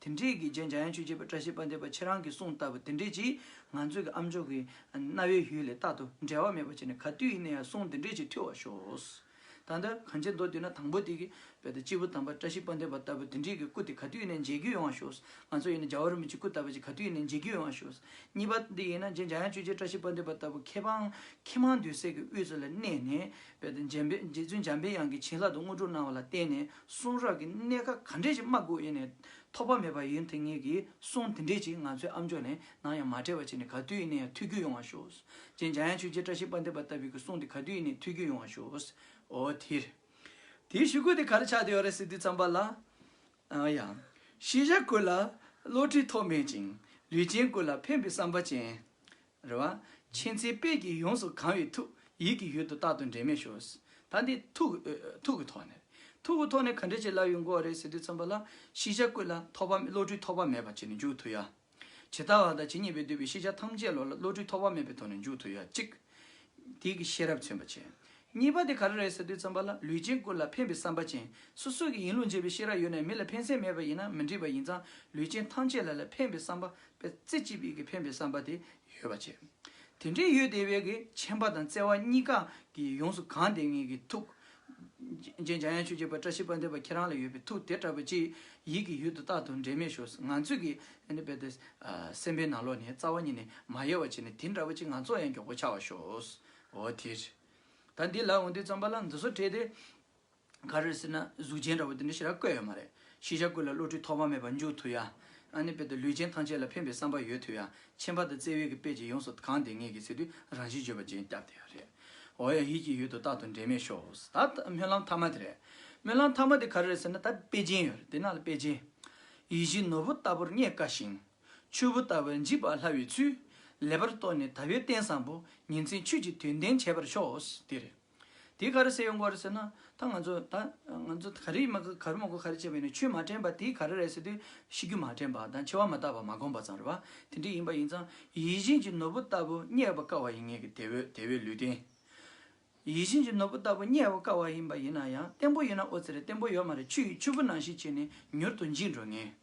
དེ་འདྲས་ཀྱི་རྗེས་འཇའ་ཡང་ཆོས་རྗེ་པ་བཀྲ་ཤིས་པ་འདས་པ་ཁྱེད་རང་གི་གསུང་ལྟ་བུ་དེ་འདྲས་ཀྱིས་ང་ཚོས་ཀྱི་ཨ་མཆོག་གི་གནའ་བོའི་ཡུལ་ལས་རྟག་ཏུ་འབྲལ་བ་མེད་པ་བྱས་ནས་ག་དུས་ཡིན་ན་ཡང་གསུང་དེ་འདྲས་ཅིག་ཐོས་བར་ཤོག། ད་ལྟ་གངས་ཅན་མདོ་སྟོད་ན་དང་པོ་དེ་གི་བོད་དང་སྤྱི་བོ་དམ་པ་བཀྲ་ཤིས་པ་འདས་པ་ལྟ་བུ་དེ་འདྲས་ཀྱི་སྐུ་དེ་ག་དུས་ཡིན་ན་མཇལ་རྒྱུ་ཡོང་བར་ཤོག། ང་ཚོ་ཡིན་ན་རྒྱ་བོད་རིན་པོ་ཆེ་སྐུ་ལྟ་བུ་ཅིག་ག་དུས་ཡིན་ན་མཇལ་རྒྱུ་ཡོང་བར་ཤོག། གཉིས་པ་འདི་ཡིན་ན་རྗེས་འཇའ་ཡང་ཆོས་རྗེ་བཀྲ་ཤིས་པ་འདས་པ་ལྟ་བུ་ཁྱེད་རང་ཁྱེད་མང་འདུས་སྲས་ཀྱི་དབུས་སུ་ལ་གནས་ནས། བོད་དུ་འཇམ་དཔལ་རྗེ་བཙུན་འཇམ་དཔལ་དབྱངས་ཀྱི་བྱིན་རླབས་དང་དངོས་གྲུབ་གནང་བ་ལ་བརྟེན་ནས་གསུང་རབ་ཀྱི་གནད་ཀ་ག་འདྲས་ཀྱིས་སྨྲ་དགོས་ཡེ་ནས་ཐོགས་པ་མེད་པ་ཡིན་དེ་ངེད་ཀྱིས་གསུང་དེ་འདྲས་ཀྱིས་ང་ཚོའི་ཨ་མཆོག་ནས་ནང་ཡང་མ་བྲལ་བ་བྱས་ནས་ག་དུས་ཡིན་ན་ཡང་ཐུགས་རྒྱུད་ཡོང་བ་ཞུ། རྗེ་འཇམ་དབྱངས་ཆོས་རྗེ་བཀྲ་ཤིས་དཔལ་ལྡན་པ་ལྟ་བུའི་ཀྱི་གསུང་དེ་ག་དུས་ཡིན་ནས་ཐུགས་རྒྱུད་ཡོང་བ་ཞུ། ཨོ་དེ། དེའི་ཞུ་སྐུལ་དེ་ག་རེ་ཆགས་བསྡད་ཡོད་རེད་ཟེར་དུས་བརྩམས་པ་ལ། ཨ་ཡ། ཤེས་བྱ་ཀུན་ལ་བློ་འཁྲིད་ཐོགས་མེད་ཅིང་ལུས་ཅན་ཀུན་ལ་ཕན་པའི་བསམ་པ་ཅན། རེ་བ། མཁྱེན་བརྩེའི་དཔལ་གྱིས་ཡོངས་སུ་གང་བའི་ཐུགས། ཡིད་ཀྱི་ཡུལ་དུ་རྟག་ཏུ་འབྲལ་མེད་ཞུགས། ད་འདི་ཐུགས། ཐུགས་ཀྱི་ཐོག་ནས། ཐུགས་ཀྱི་ཐོག་ནས་ག་འདྲའི་ཆེ་སླ་བའི་མགོ་བ་རེད་ཟེར་དུས་མཚོན་པ་ལ། ཤེས་བྱ་ཀུན་ལ་ཐོགས་པ་བློ་གྲོས་ཐོགས་པ་མེད་པར་བྱས་ནས་འཇུག་ཐུབ་ཡ། ཇི་ལྟ་བ་དང་ཇི་སྙེད་པས་བསྡུས་པའི་ཤེས་བྱ་ཐམས་ཅད་བློ་ལ་བློ་གྲོས་ཐོགས་པ་མེད་པའི་ཐོག་ནས་འཇུག་ཐུབ་ཡ་གཅིག། དེ་གི་ཤེས་རབ་མཚོན་པ་ཆེ། གཉིས་པ་དེ་ག་རེ་རེད་ཟེར་དུས་མཚོན་པ་ལ་ལུས་ཅན་ཀུན་ལ་ཕན་པའི་བསམ་པ་ཅན། སོ་སོ་གི་ཡིན་ལུགས་འབྱེད་པའི་ཤེས་རབ་ཡོད་ནས་མི་ལ་ཕན་སེམས་མེད་པ་ཡིན་ན་མི་འགྲིག་པ་ཡིན་ཙང་ལུས་ཅན་ཐམས་ཅད་ལ་ལ་ཕན་པའི་བསམ་པ་པའི་རྩེ་གཅིག་པའི་གི་ཕན་པའི་བསམ་པ་དེ་ཡོད་པར་བྱས། དེ་འདྲའི་ཡུལ་དེ་བས་གི་ཆེན་པ་དང་བརྩེ་བ་གཉིས་ཀ་གིས་ཡོངས་སུ་གང་དེ་ངེད་ཀྱི་ཐུགས། རྗེ་འཇམ་དབྱངས་ཆོས་རྗེ་པདྨ་བཀྲ་ཤིས་པ་འདས་པ་ཁྱེད་རང་ལ་ཡོད་པའི་ཐུགས་དེ་ལྟ་བུ་ཅིག་ཡིད་ཀྱི་ཡུལ་དུ་རྟག་ཏུ་འབྲལ་མེད་ཞུགས་སོ་ང་ཚོས་གི་ནི་བས་ཏེ། སེམས་པའི་ན་ལོ་ནས་རྩ་བ་ཉིད་ནས་མ་ཡལ་བར་བྱས་ནས་དེ་འདྲ་བུ་ཅིག་ང་ཚོར་ཡང་མགྱོགས་པོ་ཆགས་བར་ཞུགས་སོ། འོ་དེ། ད་འདི་ལ་འོ་འདི་བརྩམས་པ་ལ་འདི་སོགས་བྲིས་ཏེ། ག་རེ་ཟེར་ན་གཟུགས་ཅན་འདྲ་བོ་དེ་འདྲ་ཞིག་ར་བསྐོས་ཡོད་མ་རེད། ཤེས་བྱ་ཀུན་ལ་བློ་གྲོས་ཐོག་མ་མེད་པར་འཇུག་ཐུབ་ཡ། ཨ་ནི་དཔེ་དང་ལུས་ཅན་ཐམས་ཅད་ལ་ཕན་པའི་བསམ་པ་ཡོད་ཐུབ་ཡ། མཆན་པ་དང་བརྩེ་བས་ཀྱི་དཔེ་ཅིག་ཡོངས་སུ་གང་བདེ་ངེས་ཀྱི་ཚེ་དུས་རང་བཞིན་བརྗོད་པ་ཅན་སྐྱབས་དེ་ཡང་རེད། འོ་ཡ་ཧི་ཅི་ཡོད་དོ་རྟག་ཏུ་འབྲེལ་མེད་ཤོས་ད་སྨོན་ལམ་མཐའ་མ་དེ་རེད། སྨོན་ལམ་མཐའ་མ་དེ་ག་རེ་རེད་ཟེར་ན་ད་དཔེ་ཅན་ཡོད་རེད་དེ་ནང་ལ་དཔེ་ཅན། ཡིད་བཞིན་ནོར་བུ་ལྟ་བུར་རྙེད་དཀའ་ཞིང། ཆུ་བོ་ལྟ་བུར་འཇིག་པར་སླ་བའི་ཚུལ། ལེགས་པར་རྟོགས་ནས་ད་ཡོད་གཏན་བཟང་པོ། ཉིན་མཚན་ཆོས་ཀྱི་དོན་ལྡན་བྱེད་པར་ཤོག་དེ་རེད། དེ་ག་རུ་སེ་ཡོང་གོ་རེད་ཟེར་ན། ད་ང་ཚོ་ད་ང་ཚོ་ག་རེ་མ་ག་རུ་མ་གོ་ག་རེ་བྱས་པ་ཡིན་ན་ཆོས་མ་དྲན་པ་དེ་ག་རེ་རེད་ཟེར་དུས་ཤི་རྒྱུ་མ་དྲན་པ་དང་འཆི་བ་མ་བརྟགས་པ་མ་གོམས་པ་ཙམ་རེད་བ། དེ་འདྲ་ཡིན་པ་ཡིན་ཙང་ཡིད་བཞིན་གྱི་ནོར་བུ་ལྟ་བུ་རྙེད་པར་དཀའ་བ་ཡིན་ངེས་ཀྱི་དེ་བས་དེ་བས་ལུས་བརྟན། ཡིད་བཞིན་གྱི་ནོར་བུ་ལྟ་བུ་རྙེད་བར་དཀའ་བ་ཡིན་པ་ཡིན་ན་ཡང་བརྟན་པོ་ཡིན་ན་ཨོ་ཙི་རེད་བརྟན་པོ་ཡོད་མ་རེད་ཆུ་ཡི་ཆུ་བུ་ནང་བཞིན་བྱས་ནས་མྱུར་དུ་འཇིག་འགྲོ་ངེས།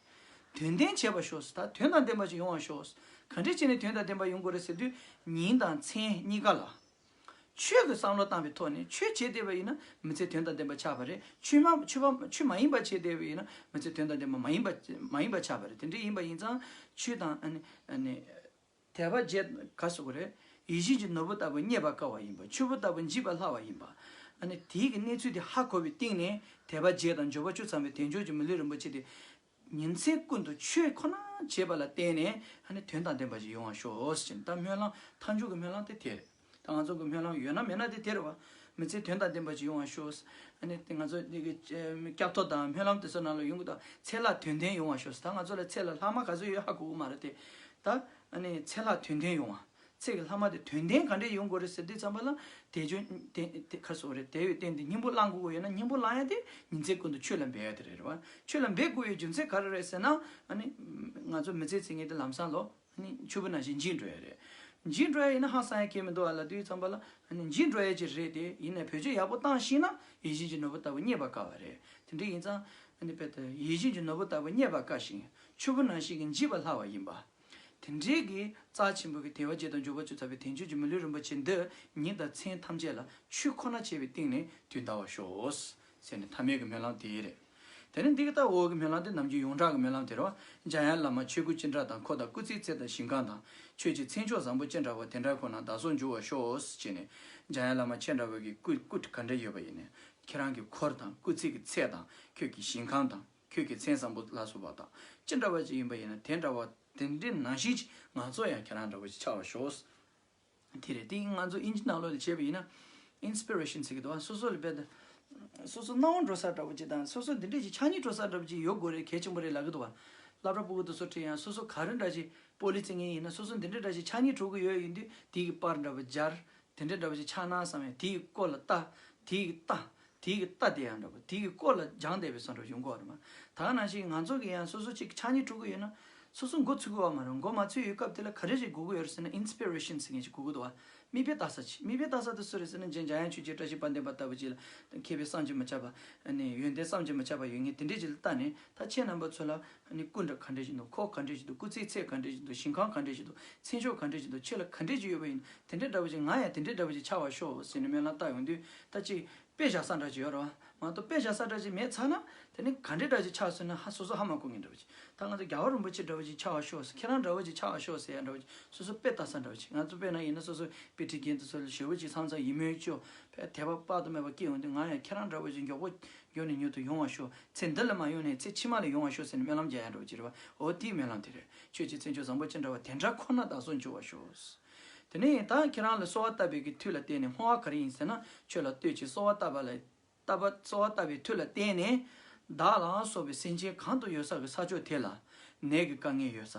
དོན་ལྡན་བྱེད་པར་ཤོག་ཟེར་ད་དོན་དང་ལྡན་པ་ཞིག་ཡོང་བར་ཤོག་གང་འདྲས་བྱས་ནས་དོན་དང་ལྡན་པ་ཡོང་དགོས་རེད་ཟེར་དུས་ཉིན་དང་མཚན་གཉིས་ཀ་ལ། ཆོས་ཀྱི་བསམ་བློ་བཏང་བའི་ཐོག་ནས་ཆོས་བྱས་བསྡད་པ་ཡིན་ན་མི་ཚེ་དོན་དང་ལྡན་པ་ཆགས་པ་རེད་ཆོས་མ་ཆོས་མ་ཡིན་པ་བྱས་བསྡད་པ་ཡིན་ན་མི་ཚེ་དོན་དང་ལྡན་པ་མ་ཡིན་པ་མ་ཡིན་པ་ཆགས་པ་རེད་དེ་འདྲས་ཡིན་པ་ཡིན་ཙང་ཆོས་དང། དད་པ་བརྗེད་དགའ་སོགས་རེད། ཡིད་བཞིན་གྱི་ནོར་བུ་ལྟ་བུ་རྙེད་པར་དཀའ་བ་ཡིན་པ་ཆུ་བོ་ལྟ་བུ་འཇིག་པར་སླ་བ་ཡིན་པ། དེའི་གི་གནས་ཚུལ་དེ་ཧ་གོ་བའི་སྟེང་ནས་དད་པ་བརྗེད་དང་འབྱོར་པ་བཅུ་ཚང་བའི་དལ་འབྱོར་གྱི་མི་ལུས་རིན་པོ་ཆེ་དེ། ཉིན་མཚན་ཀུན་ཏུ་ཆོས་ཁོ་ན་བྱེད་པ་ལ་བརྟེན་ནས་དོན་དང་ལྡན་པ་ཞིག་ཡོང་བར་ཤོག་ཅེས་ནས་ད་སྨོན་ལམ་མཐའ་མཇུག་གི་སྨོན་ལམ་དེ་དེ་རེད། ད་ང་ཚོ་གི་སྨོན་ལམ་ཡོད་ན་མེད་ན་དེ་དེར་བ་མི་ཚེ་དོན་དང་ལྡན་པ་ཞིག་ཡོང་བ་ཤོག། དེ་ང་ཚོ་སྐྱབས་ཐོབ་དང་སྨོན་ལམ་དེ་ཚོ་ནང་ལ་ཡོང་གི་དང་ཚེ་ལ་དོན་ལྡན་ཡོང་བ་ཤོག་ད་ང་ཚོ་ལ་ཚེ་ལ་ལྷག་མ་ག་ཚོད་ཡོད་ཧ་གོ་གི་མ་རེད་དེ། ད་ཚེ་ལ་དོན་ལྡན་ཡོང་བ་ཚེ་གི་ལྷག་མ་དེ་དོན་ལྡན་ག་འདྲས་ཡོང་དགོས་རེད་ཟེར་དུས་ཚང་མ་ལ་དེ་བྱོས་དེ་ཁ་སོ་རེད་དེ་ཡོད་བསྟན་དེ་སྙིང་པོ་བླང་དགོས་ཡོད་ན་སྙིང་པོ་བླང་ཡ་དེ་ཉིན་མཚན་ཀུན་ཏུ་ཆོས་ལ་འབད་ཡ་དེ་རེད་བ། ཆོས་ལ་འབད་དགོས་ཡོད་རྒྱུ་མཚན་ག་རེ་རེད་ཟེར་ན། ང་ཚོ་མི་ཚེ་ཚེ་ངེས་དེ་ལམ་སང་ལོ། ཆུ་བོ་ན་བཞིན་འཇིགས་འགྲོ་ཡས་རེད། འཇིགས་འགྲོ་ཡས་ཡིན་ན་ཧང་སང་ཡས་ཁྱེད་མི་འདུག་ཨ་ལ་དུས་ཙམ་པ་ལ། འཇིགས་འགྲོ་ཡས་ཀྱི་རེད་དེ་ཡིན་ནས་བོད་ཆས་ཡག་པོ་བཏང་ཤེས་ན་ཡིད་བཞིན་གྱི་ནོར་བུ་ལྟ་བུ་རྙེད་པ་དཀའ་བ་རེད། དེ་འདྲ་ཡིན་ཙང། ཡིད་བཞིན་གྱི་ནོར་བུ་ལྟ་བུ་རྙེད་པ་དཀའ་ཞིང་ཆུ་བོ་ན་ཞིག་འཇིགས་པ་སླ་བ་ཡིན་པ། དེ་འདྲའི་གི་རྩ་ཆེན་པོ་གི་དེ་བ་བརྒྱད་དང་འབྱོར་བ་བཅུ་ཚར་བའི་དེང་ཆོས་ཀྱི་མི་ལུས་རིན་པོ་ཆེ་འདི་ཉིད་དང་མཚན་ཐམས་ཅད་ལ་ཆུ་ཁོ་ན་བྱས་པའི་སྟེང་ནས་དུས་འདའ་བ་ཤོག། ཟེར་ནས་ཐ་མལ་གི་སྨོན་ལམ་དེ་རེད། དེ་ནས་འདི་གི་ལྟར་འོག་གི་སྨོན་ལམ་དེ་ནམ་རྒྱུན་ཡོངས་གྲགས་ཀྱི་སྨོན་ལམ་དེར་བ། འཇམ་དབྱངས་བླ་མ་ཆོས་སྐུ་སྤྱན་དྲངས་དང་འཁོར་དང་སྐུ་ཚེའི་རྩེ་དང་ཞིང་ཁམས་དང། ཆོས་ཀྱི་མཚན་མཆོག་བཟང་པོ་སྤྱན་དྲངས་པ་དེ་འདྲ་ཁོ་ན་བདག་སོགས་འབྱུང་བར་ཤོག་ཅེས་ནས། འཇམ་དབྱངས་བླ་མ་ཁྱེད་འདྲ་བ་གི་སྐུ་སྐུ་ག་འདྲ་ཡོད་པ་ཡིན་ནས། ཁྱེད་རང་གི་འཁོར་དང་སྐུ་ཚེ་གི་ཚད་དང་ཁྱོད་ཀྱི་ཞིང་ཁམས་དང་ཁྱོད་ཀྱི་མཚན་བཟང་པོ་ལ་སོགས་པ་དག་ཅི་འདྲ་བ་ཅིག་ཡིན་པ་ཡིན་ན་དེ་འདྲ་བ་དེ་འདྲའི་ནང་བཞིན་གྱི་ང་ཚོ་ཡང་ཁྱེད་རང་འདྲ་བ་ཅིག་ཆགས་བར་ཤོག། དེ་རེད་དེ་ང་ཚོ་དབྱིན་ཇི་ནང་ལོགས་ལས་བྱས་པ་ཡིན་ན། Inspiration ཟེར་གི་འདུག་སོ་སོ་ལ་དཔེ་དང། སོ་སོ་སྣང་བ་འགྲོ་ས་འདྲ་བོ་ཅིག་དང་སོ་སོ་འདི་འདྲ་ཅིག་ཆགས་ཉིད་འགྲོ་ས་འདྲ་བོ་ཅིག་ཡོད་དགོས་རེད་གལ་ཆེན་པོ་རེད་ལབ་གི་འདུག་བ། སླ་བྲ་སྤུ་གུ་དང་སོགས་བྲིས་ཡང་སོ་སོ་ག་རེ་འདྲ་ཅིག་པོ་ལི་ཙི་ངེ་ཡིན་ན་སོ་སོ་འདི་འདྲ་འདྲ་ཅིག་ཆགས་ཉིད་གྲུབ་གི་ཡོད་ཡིན་དུས་དེའི་པར་འདྲ་བོ་སྦྱར། དེ་འདྲ་འདྲ་བོ་ཅིག་ཆགས་སྣང་བསམ་ཡང་དེའི་སྐོར་ལ་བལྟ། དེའི་བལྟ། དེ་གི་རྟ་དེ་ཡང་འདྲ་པོ་དེ་གི་སྐོར་ལ་སྦྱང་བསྡད་པའི་སོ་འགྲོ་གཞུང་གོ་རེ་མ་ཐག་ན་ཞིག་ང་ཚོ་གི་ཡང་སོ་སོ་ཅིག་ཕྱག་གཉིས་དཀྲུག་གི་ཡོད་ན་སོ་སོ་མགོ་ཚུད་གི་བ་མ་རུང་མགོ་མ་ཚུད་ཡོད་སྐབས་དེ་ལ་ག་རེ་ཞིག་གོ་གི་ཡོད་རེ་ཟེར་ན inspiration ཟེར་མཁན་ཞིག་གོ་གི་འདུག་བ་མིག་དཔེ་བལྟ་ས་ཅིག་མིག་དཔེ་བལྟ་ས་དེ་སུ་རེ་ཟེར་ན་རྗེ་འཇམ་དབྱངས་ཆོས་རྗེ་བཀྲ་ཤིས་དཔལ་ལྡན་པ་ལྟ་བུ་ཅིག་ལ་མཁས་པའི་བསམ་གྱིས་མི་ཁྱབ་པ་ནས་ཡོན་ཏན་བསམ་གྱིས་མི་ཁྱབ་པ་ཡོད་ངེས་དེ་འདྲས་ཅིག་ལ་བལྟ་ནས་ད་ཁྱེད་རྣམ་པ་ཚོ་ལ་ཨ་ནི་སྐུ་འདྲ་ག་འདྲ་ཞིག་འདུག་ཁོག་ག་འདྲ་ཞིག་འདུག་སྐུ་ཚེའི་ཚད་ག་འདྲ་ཞིག་འདུག་ཞིང་ཁང་ག་འདྲ་ཞིག་འདུག་ཚེ་མཆོག་ག་འདྲ་ཞིག་འདུག་ཁྱེད་ལ་ག་འདྲ་ཅིག་ཡོད་པ་ཡིན་དེ་འདྲ་འདྲ་པོ་ཅིག་ང་ཡང་དེ་འདྲ་འདྲ་པོ་ཅིག་ཆགས་བ་ཤོག་ཟེར་ནས་སྨོན་ལམ་བཏགས་ཡོང་དུས་ལྟ་ཅི། དཔེ་བཞག་ས་འདྲ་ཅིག་ཡོད་རེད་བ། མ་གཏོགས་དཔེ་བཞག་ས་འདྲ་ཅིག་མེད་ཚར་ན། དེ་ནི་ག་འདྲ་འདྲ་ཅིག་ཆགས་སོང་ན་ཧ་སོ་སོ་ཧ་མ་གོ་ངེས་འདྲ་པོ་ཅིག་ད་ང་ཚོ་རྒྱ་བ་རིན་པོ་ཆེ་འདྲ་པོ་ཅིག་ཆགས་བ་ཤོག་ཟེར་ཁྱེད་རང་འདྲ་བོ་ཅིག་ཆགས་བ་ཤོག་ཟེར་ཡ་འདྲ་བོ་ཅིག་སོ་སོ་དཔེ་བལྟ་ས་འདྲ་བོ་ཅིག་ང་ཚོ་དཔེར་ན་ཡིན་ན་སོ་སོ་དཔེ་ཁྲིད་མཁན་དེ་ཚོ་ལ་ཞེ་བོ་ཅིག་ཚང་ཚང་ཡིན་མོད་ཀྱོ། ཕལ་དེ་བ་དཔག་ཏུ་མེད་པ་སྐྱེས་ཡོང་དུས་ང་ཡང་ཁྱེད་རང་འདྲ་བོ་ཅིག་མགྱོགས་པོ་ཡོང་ནས་མྱུར་དུ་ཡོང་བར་ཤོག་ཚེ་འདི་ལ་མ་ཡོང་ནས་ཚེ་ཕྱི་མ་ལ་ཡོང་བར་ཤོག་ཟེར་ནས་སྨོན་ལམ་རྒྱག་ཡ་འགྲོ་ཅི་རེད་བ་འོ་དེའི་སྨོན་ལམ་དེ་རེད་ཁྱོད་ཀྱི་ཚེ་མཆོག་བཟང་པོ་ཅི་འདྲ་བ་དེ་འདྲ་ཁོ་ན་ད་གཟོད་འབྱོར་བར་ཤོག་དེ་ནས་ད་ཁྱེད་རང་ལ་གསོལ་བ་བཏབ་པའི་གི་མཐུ་ལ་བརྟེན་ནས་སྨྲ་བ་ག་རེ་ཡིན་ཟེར་ན་ཁྱོད་ལ་ལྟོས་ཀྱིས་གསོལ་བ་བཏབ་པ་ལ་བཏབ་པ་གསོལ་བ་བཏབ་པའི་མཐུ་ལ་བརྟེན་ནས་བདག་ལའང་སོགས་པའི་སེམས་ཅན་གང་དུ་ཡོད་ས་གི་ས་ཕྱོགས་དེ་ལ་ནད་ཀྱི་དཀའ་ངལ་ཡོད་ས་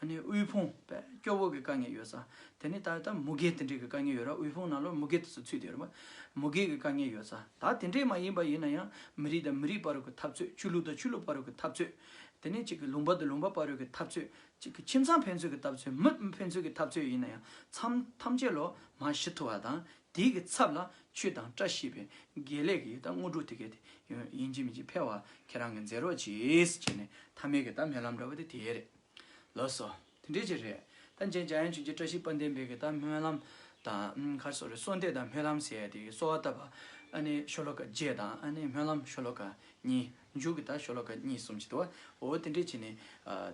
ཨ་ནི་དབུལ་ཕོངས་པས་སྐྱོ་བོ་གི་དཀའ་ངལ་ཡོད་ས་དེ་ནི་ད་ལྟ་མུ་གེ་དེ་འདྲས་ཀྱི་དཀའ་ངལ་ཡོད་ར་དབུལ་ཕོངས་ནང་ལོ་མུ་གེ་དེ་ཚོ་ཚུད་དེ་ཡོད་ར་མུ་གེ་གི་དཀའ་ངལ་ཡོད་ས་ད་དེ་འདྲས་མ་ཡིན་པ་ཡིན་ན་ཡང་མི་རིགས་དང་མི་རིགས་བར་གྱི་འཐབ་རྩོད་ཆོས་ལུགས་དང་ཆོས་ལུགས་བར་གྱི་འཐབ་རྩོད་དེ་ནས་གཅིག་གི་ལུང་པ་དང་ལུང་པ་བར་གྱི་འཐབ་རྩོད་གཅིག་གི་ཁྱིམ་ཚང་ཕན་ཚུན་གྱི་འཐབ་རྩོད་མི་མི་ཕན་ཚུན་གྱི་འཐབ་རྩོད་ཡིན་ན་ཡང་མཚམས་ཐམས་ཅད་ལོ་མང་ཞི་ཐུབ་བ་དང་དེའི་གི་ཚབ་ལ་ཆོས་དང་བཀྲ་ཤིས་པའི་དགེ་ལེགས་ཀྱི་ད་དངོས་གྲུབ་དེ་གས་དེ་ཡིན་གཅིག་མིན་གཅིག་འཕེལ་བ་ཁྱེད་རང་གི་མཛད་རོགས་གྱིས་ཟེར་ནས་ཐ་མལ་གྱི་ད་མལ་ལམ་འདྲ་བ་དེ་དེ་རེད། ལགས་སོ། དེ་འདྲའི་ཆེད་རེད། ད་མཇལ་འཇའ་ཡན་ཆོས་རྗེ་བཀྲ་ཤིས་དཔལ་ལྡན་འབེལ་གྱི་ད་སྨོན་ལམ་དང་མཁར་སོགས་རེད་སོགས་འདས་དང་སྨོན་ལམ་ཟེར་དེ་གསོལ་བ་བཏབ་པ་ཨ་ནི་ཤོ་ལོ་ཀ་བརྒྱད་དང་ཨ་ནི་སྨོན་ལམ་ཤོ་ལོ་ཀ་གཉིས་མཇུག་གི་ད་ཤོ་ལོ་ཀ་གཉིས་གསུམ་བྱེད་དུ་བ་འོ་དེ་འདྲའི་ཆེད་ནི་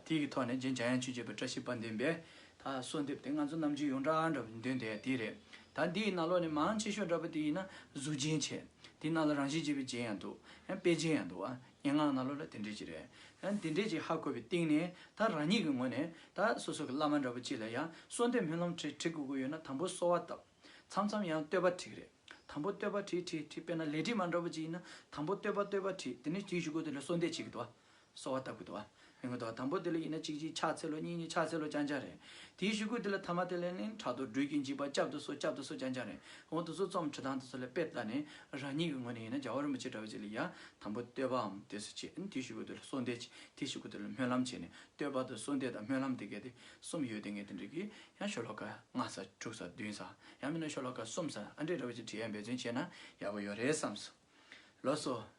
དེའི་གི་ཐོག་ནས་མཇལ་འཇའ་ཡན་ཆོས་རྗེ་བཀྲ་ཤིས་དཔལ་ལྡན་འབེལ་ད་གསོལ་འདེབས་དེ་ང་ཚོ་རྣམས་ཀྱི་ཡོངས་གྲགས་འདྲ་བའི་འདུན་དེ་དེ་རེད་ད་འདིའི་ན་ལོ་ནི་མང་ཆེ་ཤོས་འདྲ་པོ་དེ་ཡིན་ན་གཟུགས་ཅན་ཆེ་དེའི་ནང་ལ་རང་བཞིན་ཅེས་པའི་ཅན་ཡང་འདུག་ཡང་དཔེ་ཅན་ཡང་འདུག་བ། སྙན་ངག་ནང་ལོ་ལ་དེ་འདྲས་ཅིག་རེད། ད་འདི་འདྲས་ཅིག་ཧ་གོ་བའི་སྟེང་ནས་ད་རང་ཉིད་ཀྱི་ངོས་ནས་ད་སོ་སོ་གི་བླ་མ་འདྲ་བོ་ཅིག་ལ་ཡང་གསོལ་འདེབས་སྨོན་ལམ་བྲིས་བྲིས་དགོས་དགོས་ཡོད་ན་དང་པོ་གསོལ་བ་བཏབ། མཚམས་མཚམས་ཡང་བསྟོད་པ་བྲིས་རེད། དང་པོ་བསྟོད་པ་བྲིས་བྲིས་བྲིས་དཔེར་ན་ལས་བྲིས་མ་འདྲ་བོ་ཅིག་ཡིན་ན་དང་པོ་བསྟོད་པ་བསྟོད་པ་བྲིས་དེ་ནས་བྲིས་བཞུགས་དགོས་དོན་ལ་གསོལ་འདེབས་བྱེད་དགོས་དོ། གསོལ་བ་བཏབ་དགོས་དོ། ཡོང་གི་འདུག་དང་པོ་དེ་ལ་ཡིན་ན་གཅིག་གཅིག་ཕྱག་འཚལ་ལོ་གཉིས་གཉིས་ཕྱག་འཚལ་ལོ་ཅང་ཅང་རེད། དེའི་ཞུ་སྐུད་དེ་ལ་ཐ་མ་དེ་ལས་ནི་དྲག་ཏུ་སྦྲུལ་གྱི་འཇིགས་པ་བསྐྱབ་ཏུ་གསོལ་བསྐྱབ་ཏུ་གསོལ་ཅང་ཅང་རེད། གོང་དུ་ཚུལ་རྩོམ་ཁྲི་ཐང་དུ་སོགས་ལས་དཔེ་ལྟར་ནི་རང་ཉིད་ཀྱི་ངོས་ནས་ཡིན་ན་རྒྱལ་བ་རིན་པོ་ཆེ་འདྲ་བོ་ཅིག་ལ་ཡང་དང་པོ་བསྟོད་པའམ་དེ་སུ་བྱེད་ཨང་དེའི་ཞུ་སྐུད་དེ་ལ་གསོལ་འདེབས་བྱེད་དེའི་ཞུ་སྐུད་དེ་ལ་སྨོན་ལམ་བྱེད་ནས་བསྟོད་པ་དང་གསོལ་འདེབས་དང་སྨོན་ལམ་དེ་གས་དེ་གསུམ་ཡོད་དེ་ངས་དེ་འབྲི་གི་ཡང་ཤོ་ལོ་ཀ་ལྔ་ཟ་དྲུག་ཟ་བདུན་ཟ་ཡང་མིན་ན་ཤོ་ལོ་ཀ་གསུམ་ཟ་ཨང་འདྲེ་འདྲ་བོ་ཅིག་བྲིས་ཡ་འབད་བརྩོན་བྱས་ན་ཡག་པོ་ཡོད་རེད་བསམས། ལོ་སོ།